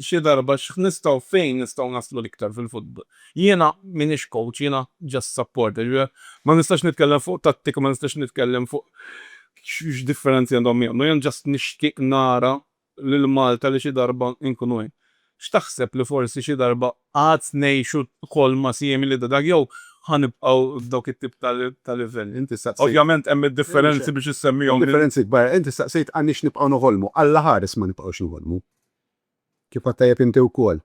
xi darba x'nistgħu fejn nistgħu naslu l-iktar fil-futbol. Jiena m'iniex coach, jiena just supporter, ma nistax nitkellem fuq tattika, ma nistax nitkellem fuq x'differenzi għandhom jagħmlu, jien just nixtieq nara lil Malta li xi darba nkunu hemm. X'taħseb li forsi xi darba għad ngħixu ħolma simili ta' dak jew ħa nibqgħu f'dawk it-tip ta' livelli? Inti staqsejt. Ovvjament hemm id-differenzi biex issemmihom. Hemm differenzi kbar. Inti staqsejt għandniex nibqgħu noħolmu. Alla ħares ma nibqgħux noħolmu. Kif għedt tajjeb inti wkoll,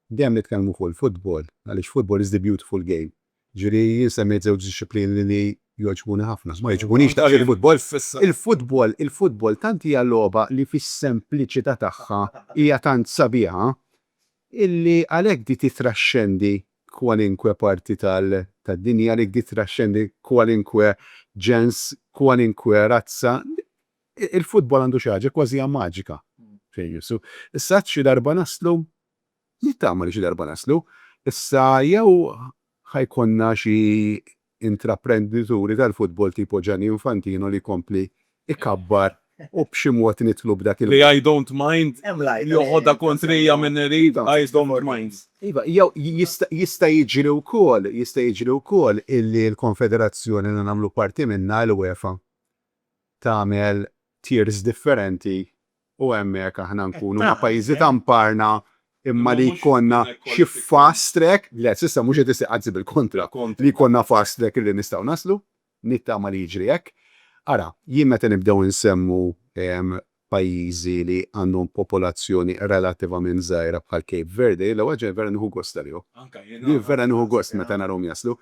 Dejjem nitkellmu fuq il-futbol għaliex football is the beautiful game. Jiġifieri jien semmejt żewġ dixxiplini li li jogħġbuni ħafna. Ma jogħġbunix daqs il-futbol. Il-futbol, il-futbol tant hija logħba li fis-sempliċità tagħha hija tant sabiħa illi għalhekk di titraxxendi kwalinkwe parti tal, tad-dinja, għalhekk di titraxxendi kwalinkwe ġens, kwalinkwe razza. Il-futbol għandu xi ħaġa kważija maġika. Fejn jissu. Issa għad xi darba naslu Nittama li xi darba naslu. Issa jew ħa jkollna xi intraprendituri tal-futbol tipo Gianni Infantino li jkompli jkabbar u b'xi mod nidħlu b'dak il-. Li I don't mind joħodha kontrija min irid I don't mind. Iva, jew jista' jiġri wkoll, jista' jiġri wkoll illi l-konfederazzjoni li nagħmlu parti minnha, l-UEFA, tagħmel tiers differenti U hemmhekk aħna nkunu ma' pajjiżi ta' mparna imma li jkollna xi fast track, le s'issa mhux qed isir, anzi bil-kontra, li jkollna fast track li nistgħu naslu, nittama li jiġri hekk. Ara, jien meta nibdew insemmu pajjiżi li għandhom popolazzjoni relattivament żgħira bħal Cape Verde, jien l-ewwel ħaġa vera nieħu gost għalihom. Vera nieħu gost meta narahom jaslu.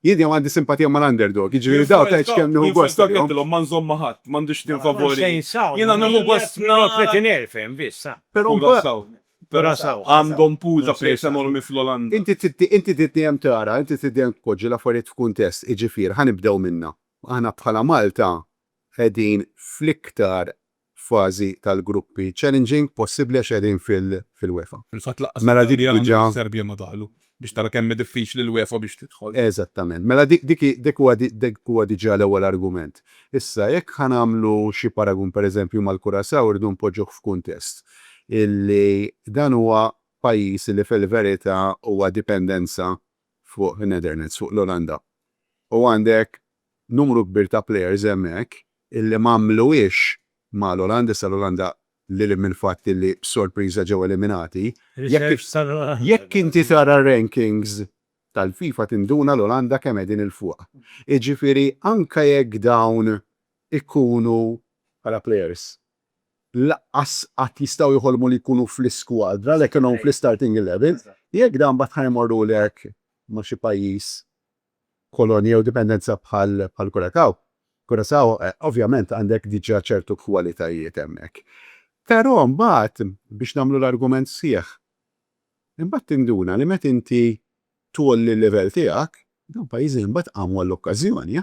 Jien dejjem għandi simpatija mal-underdog, jiġifieri dawk tgħid x'kemm nieħu gost bihom. Jien fil-kapp għedtilhom ma nżomm ma' ħadd, m'għandux tim favoriti. Jiena nieħu gost nara. Però mbagħad għandhom pool ta' players enormi fl-Olanda. Inti trid dejjem tara, inti trid dejjem tpoġġi l-affarijiet f'kuntest, jiġifier ħa nibdew minna. Aħna bħala Malta qegħdin fl-iktar f'fażi tal-gruppi challenging possibbli għax qegħdin fil-UEFA. Fil-fatt lanqas it-Taljan u s-Serbja ma daħlu, biex tara kemm hi diffiċli l-UEFA biex tidħol. Eżattament. Mela dik huwa diġà l-ewwel argument. Issa jekk ħa nagħmlu xi paragun pereżempju mal-Curaçao irridu npoġġuh f'kuntest illi dan huwa pajjiż illi fil-verità huwa dipendenza fuq in-Netherlands, fuq l-Olanda. U għandek numru kbir ta' players hemmhekk illi m'għamluhiex ma' l-Olanda, issa l-Olanda lil hinn mill-fatt illi b'sorpriża ġew eliminati, jekk inti tara r-rankings tal-FIFA tinduna l-Olanda kemm qegħdin 'il fuq. Jiġifieri anke jekk dawn ikunu bħala players lanqas qatt jistgħu joħolmu li jkunu fl-iskwadra li kellhom fl-istarting eleven, jekk dawn mbagħad ħa jmorrulek ma' xi pajjiż, kolonja jew dipendenza bħall-Curaçao. Curaçao ovvjament għandek diġà ċertu kwalitajiet hemmhekk. Però mbagħad, biex nagħmlu l-argument sħiħ, imbagħad tinduna li meta inti tgħolli l-livell tiegħek, dawn pajjiżi imbagħad qamu għall-okkażjoni.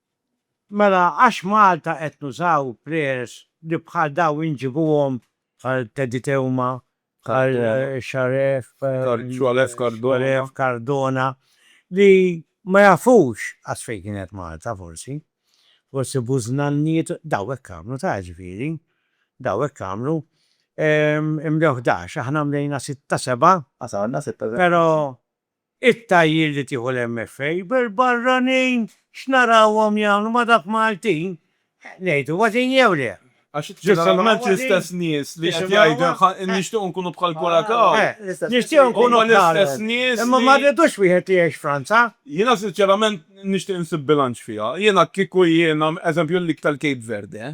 Mela għax Malta qed nużaw prayers li bħal daw inġibuhom. Bħal Teddy Teuma, bħal Sharef Cardona li ma jafux qatt fejn kienet Malta forsi. Forsi bużnanniet, daw hekk għamlu ta' ġifieri. Daw hekk għamlu. Imlew ħdax, aħna mlejna sitta seba'. Ħasamna sitta seba'. Però It-tagħjir li tieħu l-MFA bil-barranin x'narawhom jagħmlu ma' dak Maltin? Ngħidu ważin jew le? Għax ġustament l-istess nies li qed jgħidu nixtiequ nkunu bħal Curacao. Nixtiequ nkunu l-istess nies li. Imma ma rridux wieħed li jgħix Franza. Jiena sinċerament nixtieq insib bilanċ fiha. Jiena kieku jiena, eżempju l-lig tal-Cape Verde,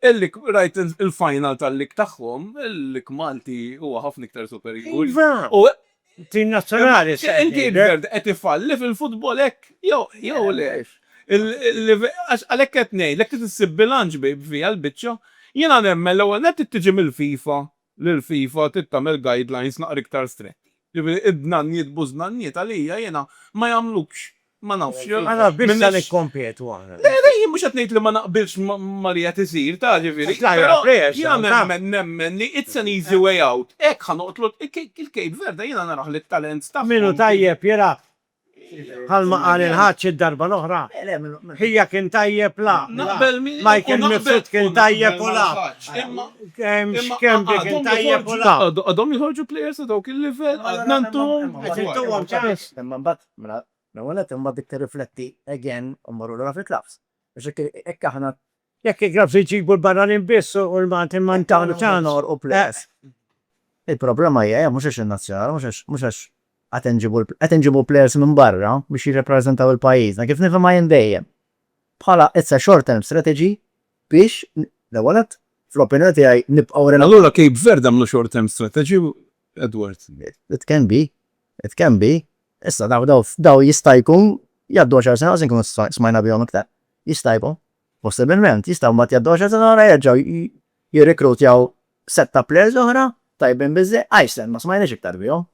Il-Lik, rajt il-final tal-Lik tagħhom, il-Lik Malti huwa ħafna iktar superjuri. Iva! U Tim nazzjonali issa qed ngħidlek. Inti Ingerd qed ifalli fil-futbol hekk jew le? Għax għalhekk qed ngħidlek trid issib bilanċ bejn fiha l-biċċa. Jiena nemmen l-ewwel nett trid tiġi mill-FIFA li l-FIFA trid tagħmel guidelines naqra iktar stretti. Jiġifieri id-dnanniet bużnanniet għalija jiena ma jagħmlux, ma nafx. Ma naf biex sa nikkompetu aħna. Le, le, jien mhux qed ngħid li ma naqbilx ma li qed isir, taf jiġifieri. Però jiena nemmen, nemmen li it's an easy way out. Hekk ħa noqtlu il-Cape Verde jiena narah li t-talent tagħhom. Min hu tajjeb jilgħab Bħalma qal il-Ħaġġ id-darba l-oħra, ħija kien tajjeb la, Michael Mifsud kien tajjeb u la, Schembri kien tajjeb u la. Għadhom joħorġu players ta' dawk il-livell? Għadna ntuhom? Qed intuhom ċans. Imma mbagħad, mela, l-ewwel nett imma dik tirrifletti again u mmorru lura fil-klabbs. Għax hekk aħna Jekk il-Grabs iġibu l-barranin biss u l-Maltin ma jintgħamlu xejn. Il-problema hija hija mhux għax in-nazzjonali, mhux għax, mhux għax qed inġibu, qed inġibu players minn barra biex jirrappreżentaw il-pajjiżna, kif nifhimha jien dejjem, bħala it's a short term strategy biex l-ewwel nett, fl-opinjoni tiegħi, nibqgħu relevanti. Allura Cape Verde għamlu short term strategy, Edward? It can be, it can be. Issa daw, daw, daw jista' jkun jgħaddu għaxar sena u se nkunu smajna bihom iktar. Jista' jkun. Possibilment. Jistgħu mbagħad jgħaddu għaxar sena oħra jerġgħu jirrikrutjaw sett ta' plejers oħra tajbin biżżej. Iceland ma smajniex iktar bihom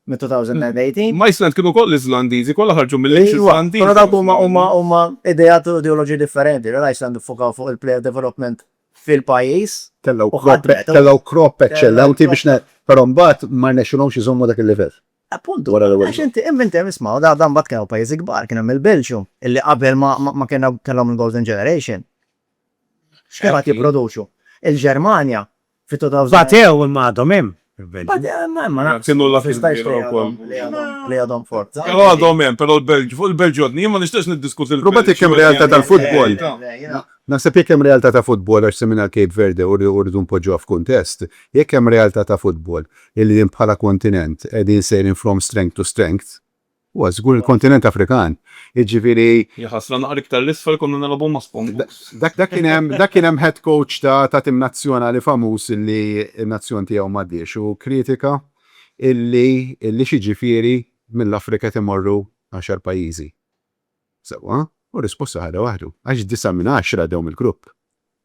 minn 2018. Ma Iceland kienu wkoll Iżlandiżi, kollha ħarġu mill-Lhix Iżlandiża. Però dawk huma huma huma ideat u ideoloġiji differenti. L-Iceland iffukaw fuq il-player development fil-pajjiż. Tellgħu crop, tellgħu crop eċċellenti biex ne, però mbagħad ma rnexxilhomx iżommu dak il-livell. Appuntu, għax inti hemm inti hemm isma' da mbagħad kien hawn pajjiżi kbar, kien hemm il-Belġju, illi qabel ma ma kellna kellhom il-Golden Generation. X'kemm qed jipproduċu. Il-Ġermanja fi 2000 Batew imma għadhom hemm il-Belġju. Batew imma hemm ma nafx. Kienu l-last ma jistax tgħid li għadhom li għadhom forza. Però għadhom hemm, però l-Belġju, fuq il-Belġju għadni jien ma nixtieqx niddiskuti l-Belġju. Rubati kemm realtà tal-futbol. Naħseb jekk hemm realtà ta' futbol għax semmejna l-Cape Verde u rridu npoġġuha f'kuntest, jekk hemm realtà ta' futbol, il-jiem bħala kontinent qegħdin sejrin from strength to strength, huwa żgur il-kontinent Afrikan, jiġifieri. Hija ħasra naqra iktar 'l isfel konna nilagħbu ma' Spongeboks. Dak kien hemm, dak kien hemm head coach ta' tim nazzjonali famuż illi n-nazzjon tiegħu m'għaddiex u kritika illi, illi x'jiġifieri mill-Afrika qed imorru għaxar pajjiżi. Sewwa, u r-risposta ħadha waħdu, għax disa' minn għaxra għaddew mill-grupp.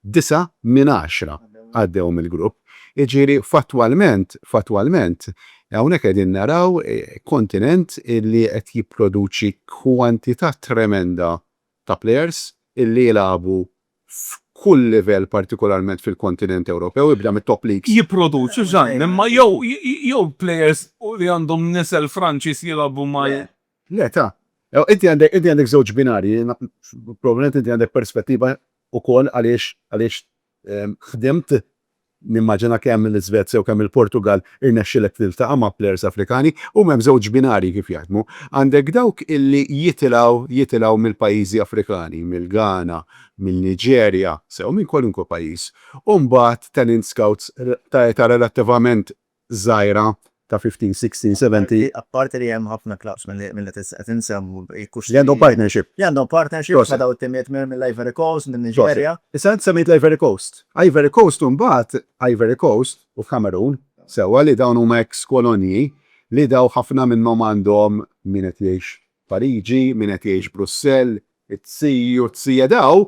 Disa' minn għaxra għaddew mill-grupp. Jiġifieri fattwalment, fattwalment, hawnhekk qegħdin naraw kontinent li qed jipproduċi kwantità tremenda ta' plejers li jilagħbu f'kull livell partikolarment fil-kontinent Ewropew, ibda mit-top leagues. Jipproduċu, żgħin, imma jew plejers li għandhom nisel Franċiż jilagħbu Le, ta. Ew, inti għandek, inti għandek żewġ binarji, probabbilment inti għandek perspettiva ukoll għaliex, għaliex ħdimt, nimmaġina kemm l-Iżvezja u kemm il-Portugall irnexxielek tiltaqa' ma' players Afrikani, huma hemm żewġ binarji kif jaħdmu. Għandek dawk illi jitilgħu, jitilgħu mill-pajjiżi Afrikani, mill-Ghana, min-Niġerja, sew minn kwalunkwe pajjiż, u mbagħad talent scouts ta' età relattivament żgħira ta' 15, 16, 17. Apparti li hemm ħafna klabbs mill-li qed insemmu jkux. Li għandhom partnership. Li għandhom partnership ma' dawn it-timijiet mill-Ivory Coast, min-Niġerja. Issa int semmejt l-Ivory Coast. Ivory Coast u mbagħad Ivory Coast u l-Kamerun, sewwa li dawn huma eks kolonji li daw ħafna minnhom għandhom min qed jgħix Pariġi, min qed jgħix Brussell, it-zii u t-zija daw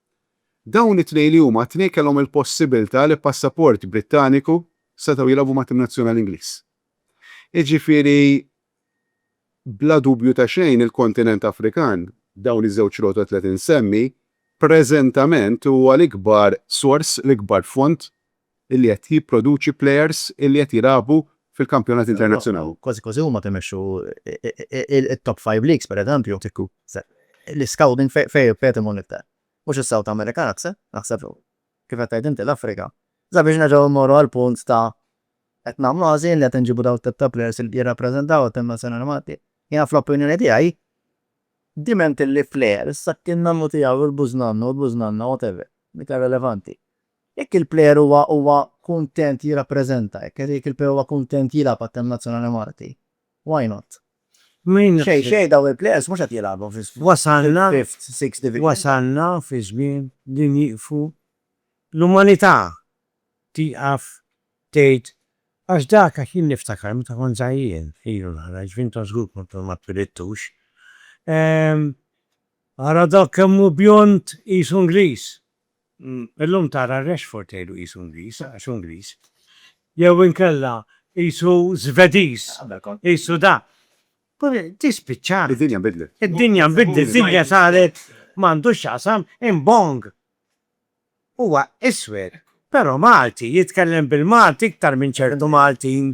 Dawn it-tnejn li huma t-tnejn kellhom il-possibilità li b'passaport Brittaniku setgħu jilgħabu ma' tim nazzjonali Ingliż. Jiġifieri bla dubju ta' xejn il-kontinent Afrikan, dawn iż-żewġ rotot li qed insemmi, preżentament huwa l-ikbar sors, l-ikbar font illi qed jipproduċi plejers illi qed jilagħbu fil-kampjonati internazzjonali. Kważi kważi huma qed imexxu t-top five leagues pereżempju. L-iscouting fejn qiegħed imur l-iktar? Mhux is-South America naħseb, kif qed tgħid inti l-Afrika. Sabiex nerġgħu mmorru għall-punt ta' qed nagħmlu għażil li qed inġibu dawn it-tip ta' plejers li jirrappreżentaw it-tim nazzjonali Malti. Jiena fl-opinjoni tiegħi diment illi plejer, is-sakk in-nannu tiegħu, il-bużnannu, il-bużnanna, whatever, dik hija relevanti. Jekk il-plejer huwa huwa kuntent jirrappreżenta, jekk jekk il-plejer huwa kuntent jilgħab għat-team nazzjonali Malti, why not? Xejn xejn dawn il-plejers mhux qed jilgħabu fi fifth, sixth division. Wasalna fi żmien li nieqfu l-umanità tieqaf tgħid għax dak għax jien niftakar meta kont żgħir, ilu nara, ġifieri intom żgur kontu ma twilidtux, ara dak kemm hu bjond qisu Ingliż, Illum tara Rashford tgħidu qisu Ingliż għax hu Ingliż. Jew inkella qisu Żvediż, qisu da. Tispiċċa. Id-dinja nbidlet. Id-dinja nbidlet, id-dinja saret m'għandux x'jaqsam imbong. Huwa iswed, però Malti, jitkellem bil-Malti iktar minn ċertu Maltin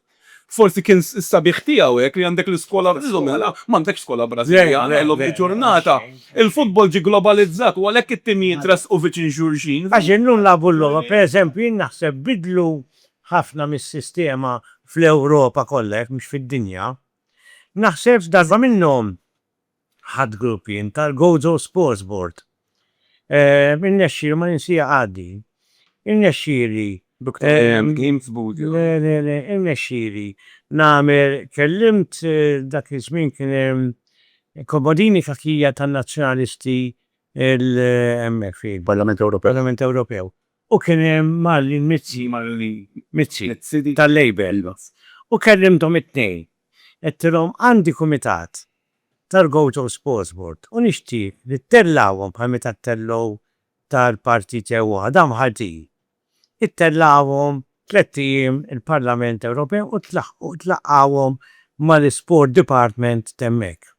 Forsi kien s-sabiħ tiegħu hekk li għandek l-iskola llum mela m'għandekx skola Brażiljana illum il-ġurnata. Il-futbol ġie globalizzat u għalhekk it-timijiet tressqu viċin xulxin. Għax illum nlagħbu l-logħba, pereżempju jien naħseb biddlu ħafna mis-sistema fl-Ewropa kollha jekk mhux fid-dinja. Naħseb f'darba minnhom Ħadd grupp jien tal-Gozo Sports Board. Irnexxieli ma ninsieha għaddi. Irnexxieli. Duktur William James Booth. Le, le, le, irnexxieli nagħmel, kellimt dak iż-żmien kien hemm Komodini Cachia tan-Nazzjonalisti l-, hemmhekk fi. Parlament Ewropew. Parlament Ewropew. u kien hemm mal-mizzi, mal-mizzi, tal-Labour, u kellimthom it-tnejn. Għedtilhom għandi kumitat tal-Gaucho Sports Board u nixtieq li ttellgħuhom bħal meta ttellgħu tal-partit jew waħda mħalltin. Ittellgħuhom tlett ijiem il-Parlament Ewropew u tlaqqgħuhom mal-isport department t'hemmhekk.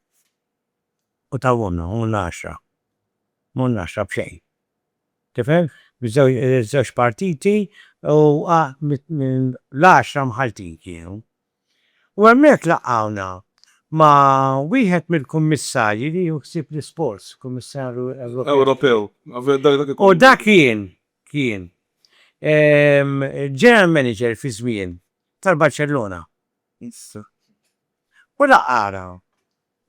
U tawhomna, u m'għollna għaxra. M'għollna għaxra b'xejn. Tifhem? Miż-żewġ partiti u l-għaxra Maltin kienu. U hemmhekk laqgħuna ma' wieħed mill-kummissarji li jieħu ħsieb l-isports, kummissarju Ewropew. Ewropew, dak dak ikun. U dak kien, kien, il-general manager fi żmien tal-Barċellona. U laqgħana.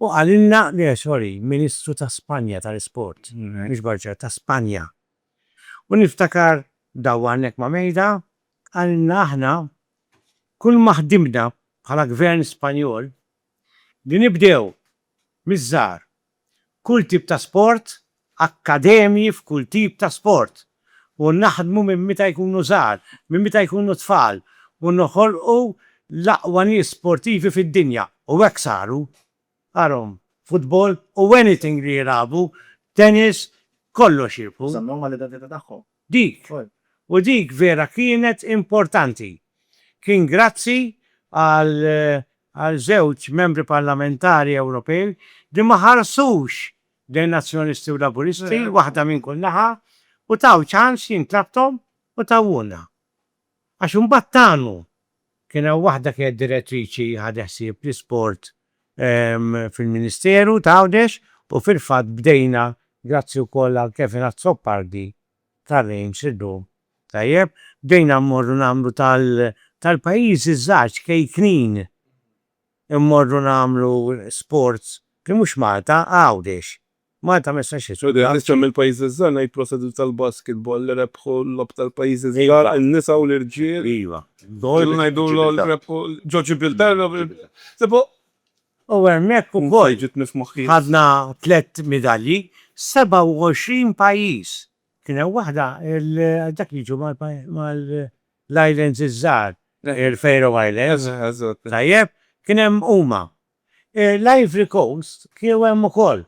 Hu qalilna li Rajoy, Ministru ta' Spanja tal-Isport, mhux Barġar, ta' Spanja. U niftakar daw hawnhekk ma' Mejda qalilna aħna kull ma ħdimna bħala Gvern Spanjol li nibdew miż-żgħar kull tip ta' sport akkademji f'kull tip ta' sport u naħdmu minn meta jkunu żgħar, minn meta jkunu tfal u noħolqu l-aqwa nies sportivi fid-dinja u hekk saru. Arahom, futbol u anything li jilagħbu, tennis, kollox jirbħu. Żammewhom mal-identità tagħhom. Dik. U dik vera kienet importanti. Kien grazzi għal żewġ Membri Parlamentari Ewropej li ma ħarsux bejn Nazzjonalisti u Laburisti, waħda minn kull naħa, u taw ċans jien tlabthom u tawhulna. Għax imbagħad tagħnu. Kien hawn waħda kienet direttriċi ħadet ħsieb l-isport fil-Ministeru ta' Għawdex u fil-fatt bdejna grazzi wkoll għal Kevin Azzopardi tar-Reims illum. Tajjeb? Bdejna mmorru nagħmlu tal-pajjiżi ż-żgħar ċkejknin. Immorru nagħmlu sports li mhux Malta, Għawdex. Malta ma jistax jitlaq. Ġodie, għaliex hemm il-pajjiżi ż-żgħar ngħid prosedit tal-basketball li rebħu l-logħob tal-pajjiżi ż-żgħar, in-nisa u l-irġiel. Iva. Ġieli ngħidu l-għold rebħu ġo Ġibilterra. Sebu. U hemmhekk ukoll. Ġietni f'moħħi. Ħadna tliet midalji, 27 pajjiż. Kien hemm waħda għal dak li jiġu mal-islands iż-żgħar, il-Faroe Islands. Tajjeb? Kien hemm huma. L-Ivory Coast kienu hemm ukoll.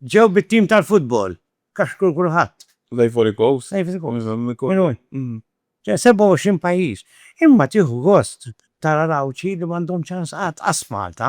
Ġew bit-tim tal-futbol. Kaxkru kulħadd. L-Ivory Coast? L-Ivory Coast. Kienu hemm. Ġew 27 pajjiż. Imma tieħu gost tara l-Għawdxi li m'għandhom ċans qatt, qas Malta.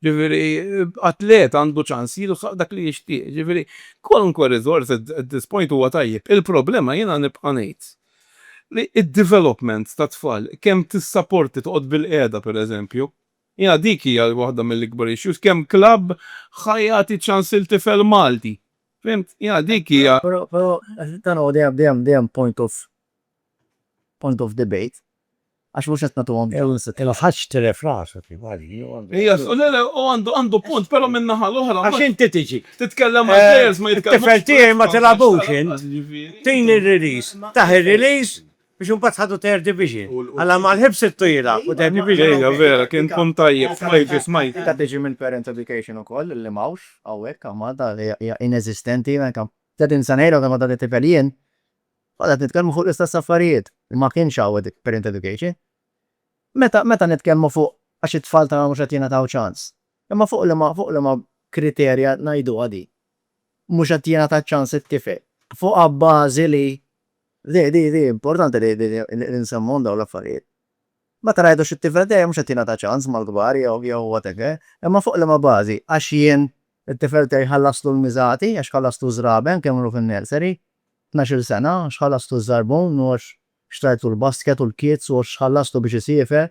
Jiġifieri, atlet għandu ċans jilħaq dak li jixtieq. Jiġifieri, kwalunkwe riżors at this point huwa tajjeb. Il-problema jiena nibqa' ngħid li d-development tat-tfal, kemm tissaporti toqgħod bilqiegħda pereżempju, jiena dik hija waħda mill-ikbar issues, kemm klabb ħa jagħti ċans lil tifel Malti? Fhimt? Jiena dik hija. Però, però, dan huwa dejjem, dejjem, dejjem point of, point of debate. Għax mhux qed nagħtuhom ċans. Il-Ħaġġ tilef rasu kif qal hi u għandu. Iva, le le, u għandu għandu punt, però min-naħa l-oħra. Għax inti tiġi. Titkellem mal-plejers ma jitkellmux. It-tifel tiegħi ma tilagħbux int. Tini r-release. Tah ir-release biex imbagħad ħa tu teher division. Alla ma l-ħibs ittu jilgħab u teher division. Iva, vera, kien punt tajjeb, smajtu, smajtu. Inta tiġi minn parent education ukoll li m'hawnx hawnhekk, Malta hija ineżistenti, anke. Tgħid insan ejra ta' ma tagħti tifel jien, Konna qed nitkellmu fuq l-istess affarijiet. Ma kienx hawn dik parent education. Meta, meta nitkellmu fuq għax it-tfal tagħna mhux qed jingħataw ċans. Imma fuq liema, fuq liema kriterja ngħiduha din? Mhux qed jingħata ċ-ċans it-tifel. Fuq abbażi li, di, di, di, importanti li, li, li nsemmuhom dawn l-affarijiet. Meta ngħidu xi tifel dejjem mhux qed jingħata ċans mal-kbar jew, jew whatever. Imma fuq liema bażi? Għax jien It-tifel tiegħi ħallaslu l-miżati għax ħallaslu ż-żraben kemm ilu fin-nursery. Tnax-il sena għax ħallaslu ż-żarbun u għax xtrajtlu l-basket u l-kids u għax ħallaslu biex isiefer.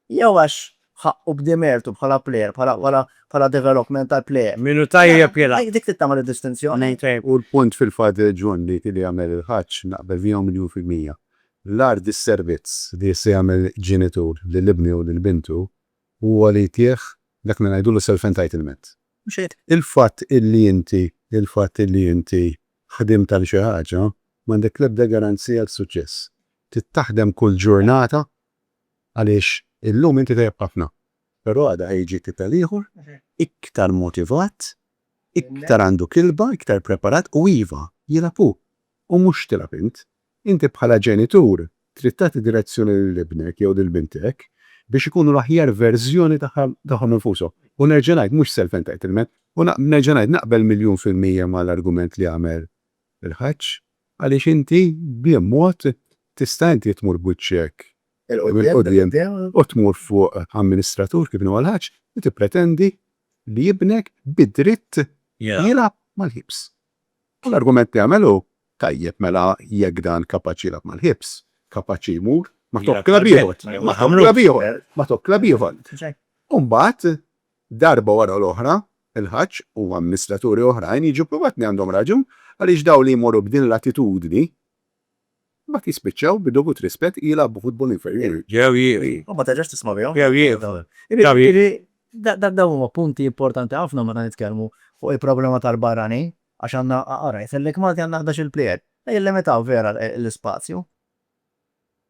Jew għax ħaqqu b'di mertu bħala player, bħala developmental player. Min hu tajjeb jilgħab. Dik trid tagħmel id-distinzjoni. Hu l-punt fil-fatt John li li jagħmel il-Ħaġġ naqbel miegħu miljun fil-mija. L-agħar dis-servizz li jista' jagħmel ġenitur lil ibnu jew lil bintu Huwa li jtih dak li ngħidulu self-entitlement. Mhux hekk? Il-fatt illi inti, il-fatt illi inti ħdimt għal xi ħaġa, m'għandek l-ebda garanzija għal suċċess. Trid taħdem kull ġurnata għaliex illum inti tajjeb ħafna, però għada ħa jiġi kif għal ieħor iktar motivat, iktar għandu kilba, iktar preparat u iva, jilgħab hu u mhux tilgħab int. Inti bħala ġenitur trid tagħti direzzjoni lil ibnek jew lil bintek biex ikunu l-aħjar verżjoni tagħhom infushom. U nerġa' ngħid, mhux self-entitlement. U nerġa' ngħid, naqbel miljun fil-mija mal-argument li għamel il-Ħaġġ, għaliex inti b'li mod tista' inti tmur b'wiċċek il-quddiem u tmur fuq amministratur kif inhu huwa l-Ħaġġ u tippretendi li ibnek bi dritt jilgħab mal-ħiebs? L-argument li għamel hu, Tajjeb, mela jekk dan kapaċi jilgħab mal-Hibs, kapaċi jmur ma' top club ieħor, ma' top club ieħor, ma' top club ieħor. U mbagħad, darba wara l-oħra, il-Ħaġġ u amministraturi oħrajn jiġu pprovat li għandhom raġun għaliex dawn li jmorru b'din l-attitudni Imbagħad jispiċċaw bi dovut rispett jilgħabu futbol inferjuri. Jew jiri. U ma terġax tisma' bihom. Jew jiri. Jiġifieri dawn huma punti importanti ħafna meta nitkellmu fuq il-problema tal-barranin għax għandna, ara jgħidlek Malti għandna ħdax-il plejer. Jillimitaw vera l-ispazju.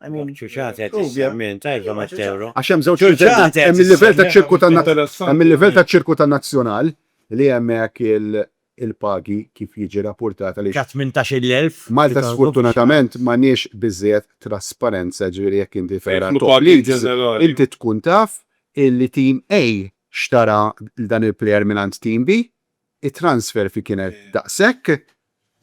I mean, Ċuċate qed True, yeah. issemmi inta Iva Matteo. Għax hemm żewġ Ċuċate livelli. qed Hemm il-livell issemmi. taċ-ċirku tan Interessanti. hemm il-livell taċ-ċirku tan-nazzjonal li hemmhekk il- il-pagi kif jiġi rapportat għaliex Ka 18,000. Malta sfortunatament m'għandniex biżżejjed trasparenza ġifieri jekk inti tara Jidħlu top pagi leagues, ġenerali. inti tkun taf illi team A xtara dan il-player mingħand team B, it-transfer fi kienet daqshekk,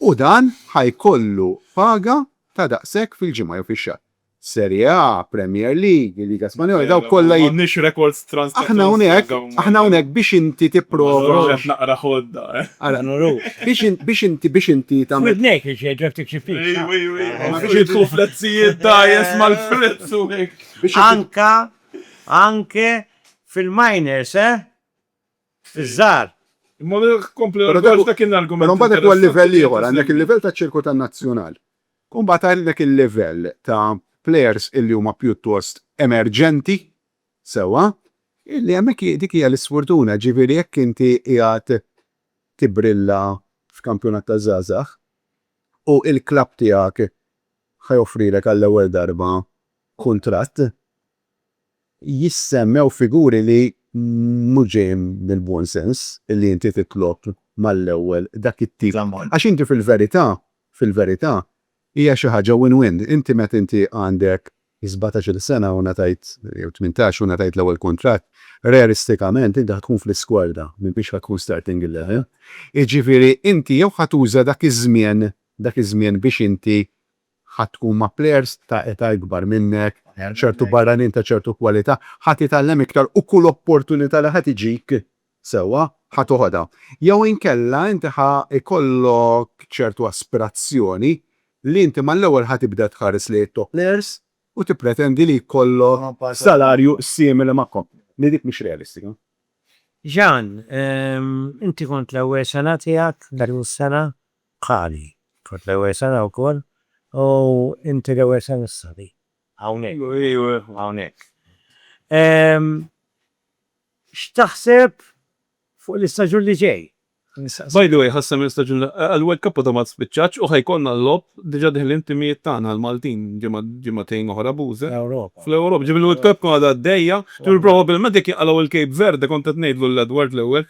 U dan ħa jkollu paga ta' daqshekk fil-ġimgħa jew fix-xahar. Serie A, Premier League, il-Liga Spanjola, dawk kollha jid. M'għandniex rekords transnazzjonali. Aħna hawnhekk, aħna hawnhekk biex inti tipprova. Ma nurux. Qed naqra ħodda, eh. Ara. Ma nurux. Biex in, biex inti, biex inti tagħmel. F'widnejk li xejn ġeftik xi ftit. Ej, ej, ej. Ma biex idħlu f'lezzijiet dgħajjes mal-fritz u hekk. Anka, anke fil-minors, eh. iż-żgħar. Imma kompli Però dak dak kien l-argument. Però mbagħad dak huwa l-livell ieħor, għandek il-livell taċ-ċirku tan-nazzjonal. U mbagħad għandek il-livell ta' plejers illi huma pjuttost emerġenti, sewwa, illi hemmhekk dik hija l-isfurtuna, jiġifieri jekk inti qiegħed tibbrilla f'kampjonat taż-żgħażagħ u l-klabb tiegħek ħa joffrilek għall-ewwel darba kuntratt, jissemmew figuri li mhux ġejjin mill-buon sens li inti titlob mal-ewwel dak it-tip ta' ammont. Għax inti fil-verità, fil-verità, hija xi ħaġa win-win. Inti meta inti għandek sbatax-il sena u ngħatajt, jew tmintax u ngħatajt l-ewwel kuntratt, realistikament inti ħa tkun fl-iskwadra, m'intix ħa tkun starting eleven. Jiġifieri inti jew ħa tuża dak iż-żmien, dak iż-żmien biex inti Ħa tkun ma' plejers ta' età ikbar minnek, ċertu barranin ta' ċertu kwalità, ħa titgħallem iktar u kull opportunità li ħa tiġik, sewwa, ħa toħodha. Jew inkella inti ħa jkollok ċertu aspirazzjoni li inti mal-ewwel ħa tibda tħares lejn it-top plejers u tippretendi li jkollok salarju simili magħhom, li dik mhix realistika. Jean, Inti kont l-ewwel sena tiegħek, l-aħħar sena? Qali, Kont l-ewwel sena wkoll u inti l-ewwel sena issa li hawnhekk. Iva, hawnhekk. Ehm, x'taħseb fuq l-istaġun li ġej? By the way, ħassem l-istaġun li għall-World Cup għadha ma spiċċatx u ħa jkollna l-logħob, diġà deħlin timijiet tagħna l-Maltin ġimgħa, ġimgħatejn oħra b'uża. Fl-Ewropa. Fl-Ewropa, ġifieri l-World Cup għadha għaddejja, ġifieri probabbilment jekk jinqalgħu l-Cape Verde, kont qed ngħidlu lil Edward l-ewwel,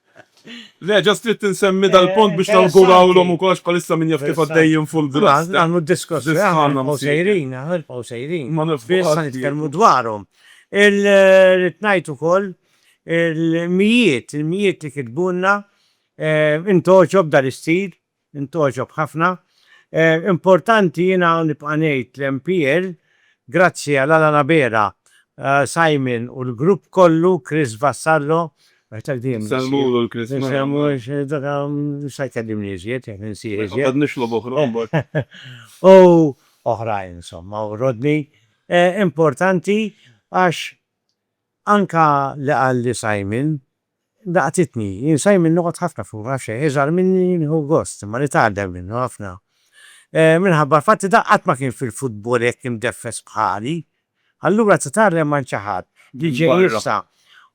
Le, just ridt insemmi dal-punt biex nawgurawlhom ukoll għax bħalissa min jaf kif għaddejjin full blast. Nagħmlu d-diskors li aħna nibqgħu sejrin, aħna nibqgħu sejrin. Ma nibqgħux. Biss ħa nitkellmu dwarhom. Ridt ngħid ukoll il-mijiet, il-mijiet li kitbulna, int għoġob dan is-sit, Intgħoġob ħafna. Importanti jiena nibqa' ngħid l-MPL, grazzi għal Alan Abela, Simon u l-grupp kollu, Chris Vassallo, Insellmulu l-Chris u oħrajn insomma u Rodney. Importanti għax anke li qal li Simon Laqtitni. Jien Simon noqgħod ħafna fuq, ma nafx għaliex. Iżgħar minni nieħu gost, imma nitgħallem minnu ħafna. Minħabba l-fatt li dan qatt ma kien fil-futbol hekk imdeffes bħali. Allura titgħallem minn xi ħadd li ġej issa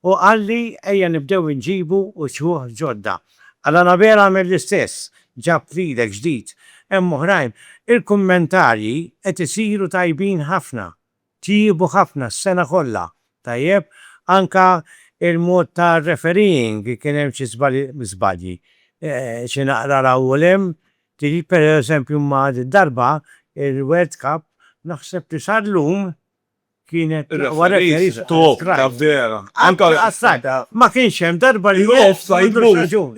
u qalli ejja nibdew inġibu uċuħ ġodda. Għal Anabel għamel l-istess, ġab leader ġdid. Hemm oħrajn. Il-kummentarji qed isiru tajbin ħafna. Tjiebu ħafna s-sena kollha. Tajjeb, anke il-mod ta' refereeing kien hemm xi żbalji, xi naqra 'l hawn u 'l hemm. Tiġi pereżempju ma' darba il-World Cup naħseb li sa llum kienet l-aqwa referee fl-offside. Ma kienx hemm darba li l-offside m'għandux raġun.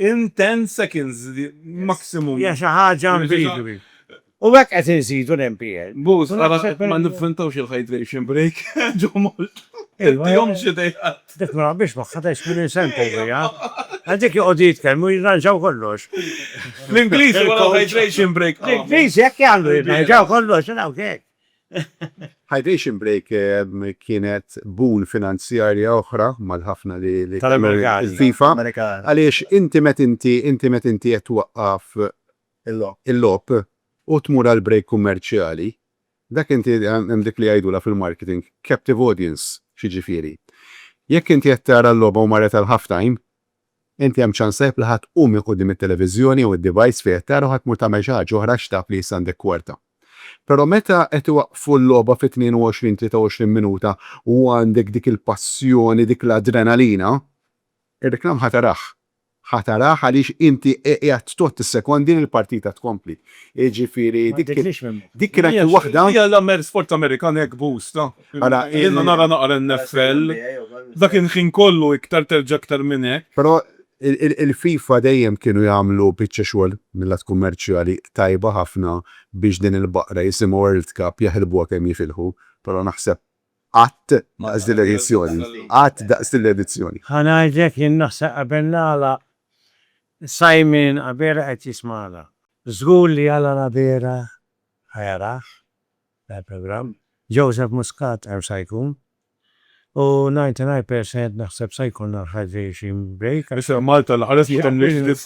Hija xi ħaġa incredibile. U hekk qed inżidu l-MPL. Boss, ara ma nivventawx il-hydration break ġo Malta. Tittihomx idejat. Dik ma naqbilx magħha tant x'minn insempi fiha. Għal dik joqogħdu jitkellmu jirranġaw kollox. L-Ingliżi wara l-hydration break. L-Ingliżi hekk jagħmlu jirranġaw kollox u dawk hekk. Hydration break kienet boon finanzjarja oħra mal-ħafna li kienu il-FIFA. Tal-Amerikani. Għaliex inti met inti inti met inti qed twaqqaf il-logħob u tmur għal break kummerċjali, dak inti hemm dik li jgħidulha fil-marketing captive audience, x'jiġifieri? Jekk inti qed tara l-logħba u marret għal half time, inti hemm ċans tajjeb li ħa tqum minn quddiem it-televiżjoni jew id-device fejn qed tara u ħa tmur tagħmel xi ħaġa oħra għax taf li issa għandek kwarta. Però meta qed iwaqqfu l-logħba fit-22, 23 minuta u għandek dik il-passjoni, dik l-adrenalina, Ir-reklam ħa tarah. Ħa tarah għaliex inti qiegħed tgħodd is-sekondi li l-partita tkompli. Jiġifieri dik dik kienet il waħda. Hija l-Amer sport Amerikan hekk bosta. Ara hi. Jiena nara naqra NFL. Dak il-ħin kollu iktar terġa' iktar minn hekk. Però il-FIFA dejjem kienu jagħmlu biċċa xogħol mil-lat kummerċjali tajba ħafna biex din il-baqra jisimha World Cup jaħilbuha kemm jifilħu. Però naħseb Qatt daqs din l-edizzjoni. Qatt daqs din l-edizzjoni. Ħa ngħidlek jien naħseb qabel nagħlaq Simon Abela qed jismagħna. Żgur li Alan Abela ħa jarah dan il-programm. Joseph Muscat hemm sa jkun. U 99% naħseb sa jkollna l-hydration break. Isem Malta nħares ma tgħamlix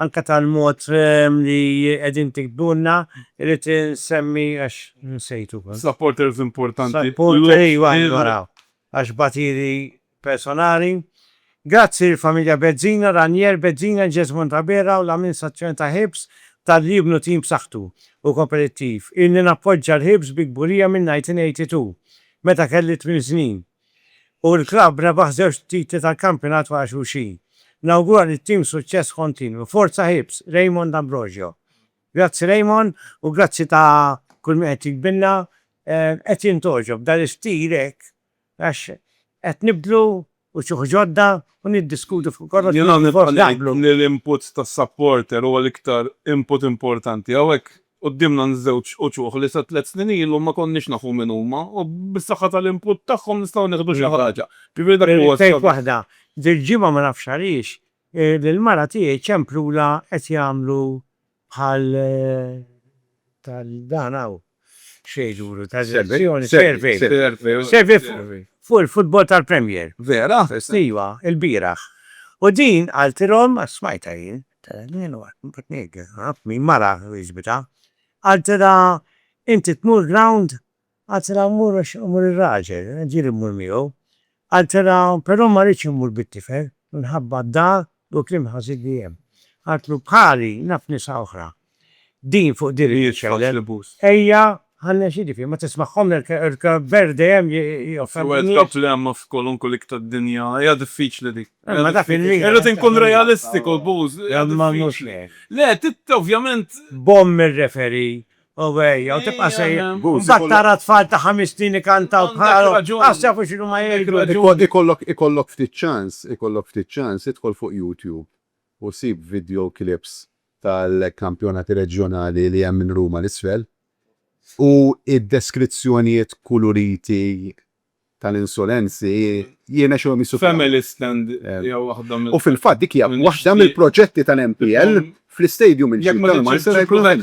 anke tal-mod li qegħdin tiktbulna, irrid insemmi għax nsejtu. Supporters importanti. Għax batiri personali. Grazzi lill-familja Bezzina, Ranier Bezzina, Jesmond Abela u l-amministrazzjoni ta' Hibs talli jibnu tim b'saħħtu u kompetittiv. Ilni nappoġġa l-Hibs bi kburija mill-1982, meta kelli tmien snin. u l-klabb rebaħ żewġ titli tal-kampjonat wara xulxin. Nawgura lit-tim suċċess kontinwu. Forza Hibs, Raymond Ambrogio. Grazzi Raymond u grazzi ta' kull min qed jiktbilna. Qed jintgħoġob b'dan l-istil hekk għax qed nibdlu wċuħ ġodda u niddiskutu fuq kollox u forsi naqblu. Jiena nibqa' ngħid li l-input tas-supporter huwa l-iktar input importanti hawnhekk. Quddiemna nżewġ uċuħ li sa tliet snin ilu ma konniex nafu min huma u bis-saħħa tal-input tagħhom nistgħu nieħdu xi ħaġa. Ġifieri dak huwa s-sabiħ. Irrid ngħid waħda, dil-ġimgħa ma nafx għaliex lill-mara tiegħi ċemplulha qed jagħmlu bħal tal dan hawn x'jgħidulu tal-selezzjoni survey survey fuq il-futbol tal-Premier. Vera? Iva, ilbieraħ. U din qaltilhom, smajtha jien, Min mara jiġbidha. Qaltilha, Inti tmur ground? Qaltilha, Mmur għax imur ir-raġel, ġieli mmur miegħu. Qaltilha, Però ma rridx immur bit-tifel minħabba d-dar u l-kliem ħażin li hemm. Qaltlu, Bħali, naf nisa oħra Din fuq din li jitkellem. Ejja ħa nexidi fih, ma tismagħhom il-kber dejjem joffendu n-nies. L-ewwel problema f'kwalunkwe lik tad-dinja hija diffiċli dik. Imma dak il-lik. Irrid inkun realistiku Booz. Imma mhux hekk. Le, ovvjament. Bomm ir-referee u ejja u tibqa' sejjer. Booz. Imbagħad tara tfal ta' ħames snin ikantaw bħalhom. Għandek raġun. Għax jafu x'inhu ma jgħidu. Ikollok ftit ċans, ikollok ftit ċans, idħol fuq YouTube u sib video clips tal-kampjonati reġjonali li hemm minn Ruma 'l isfel u d-deskrizzjonijiet kuluriti tal-insolenzi jirnexxilhom jissuffraw. U fil-fatt dik hija waħda mill-proġetti tal-MPL fl-istadium il-ġdid tal-Marsa li se jkun hemm.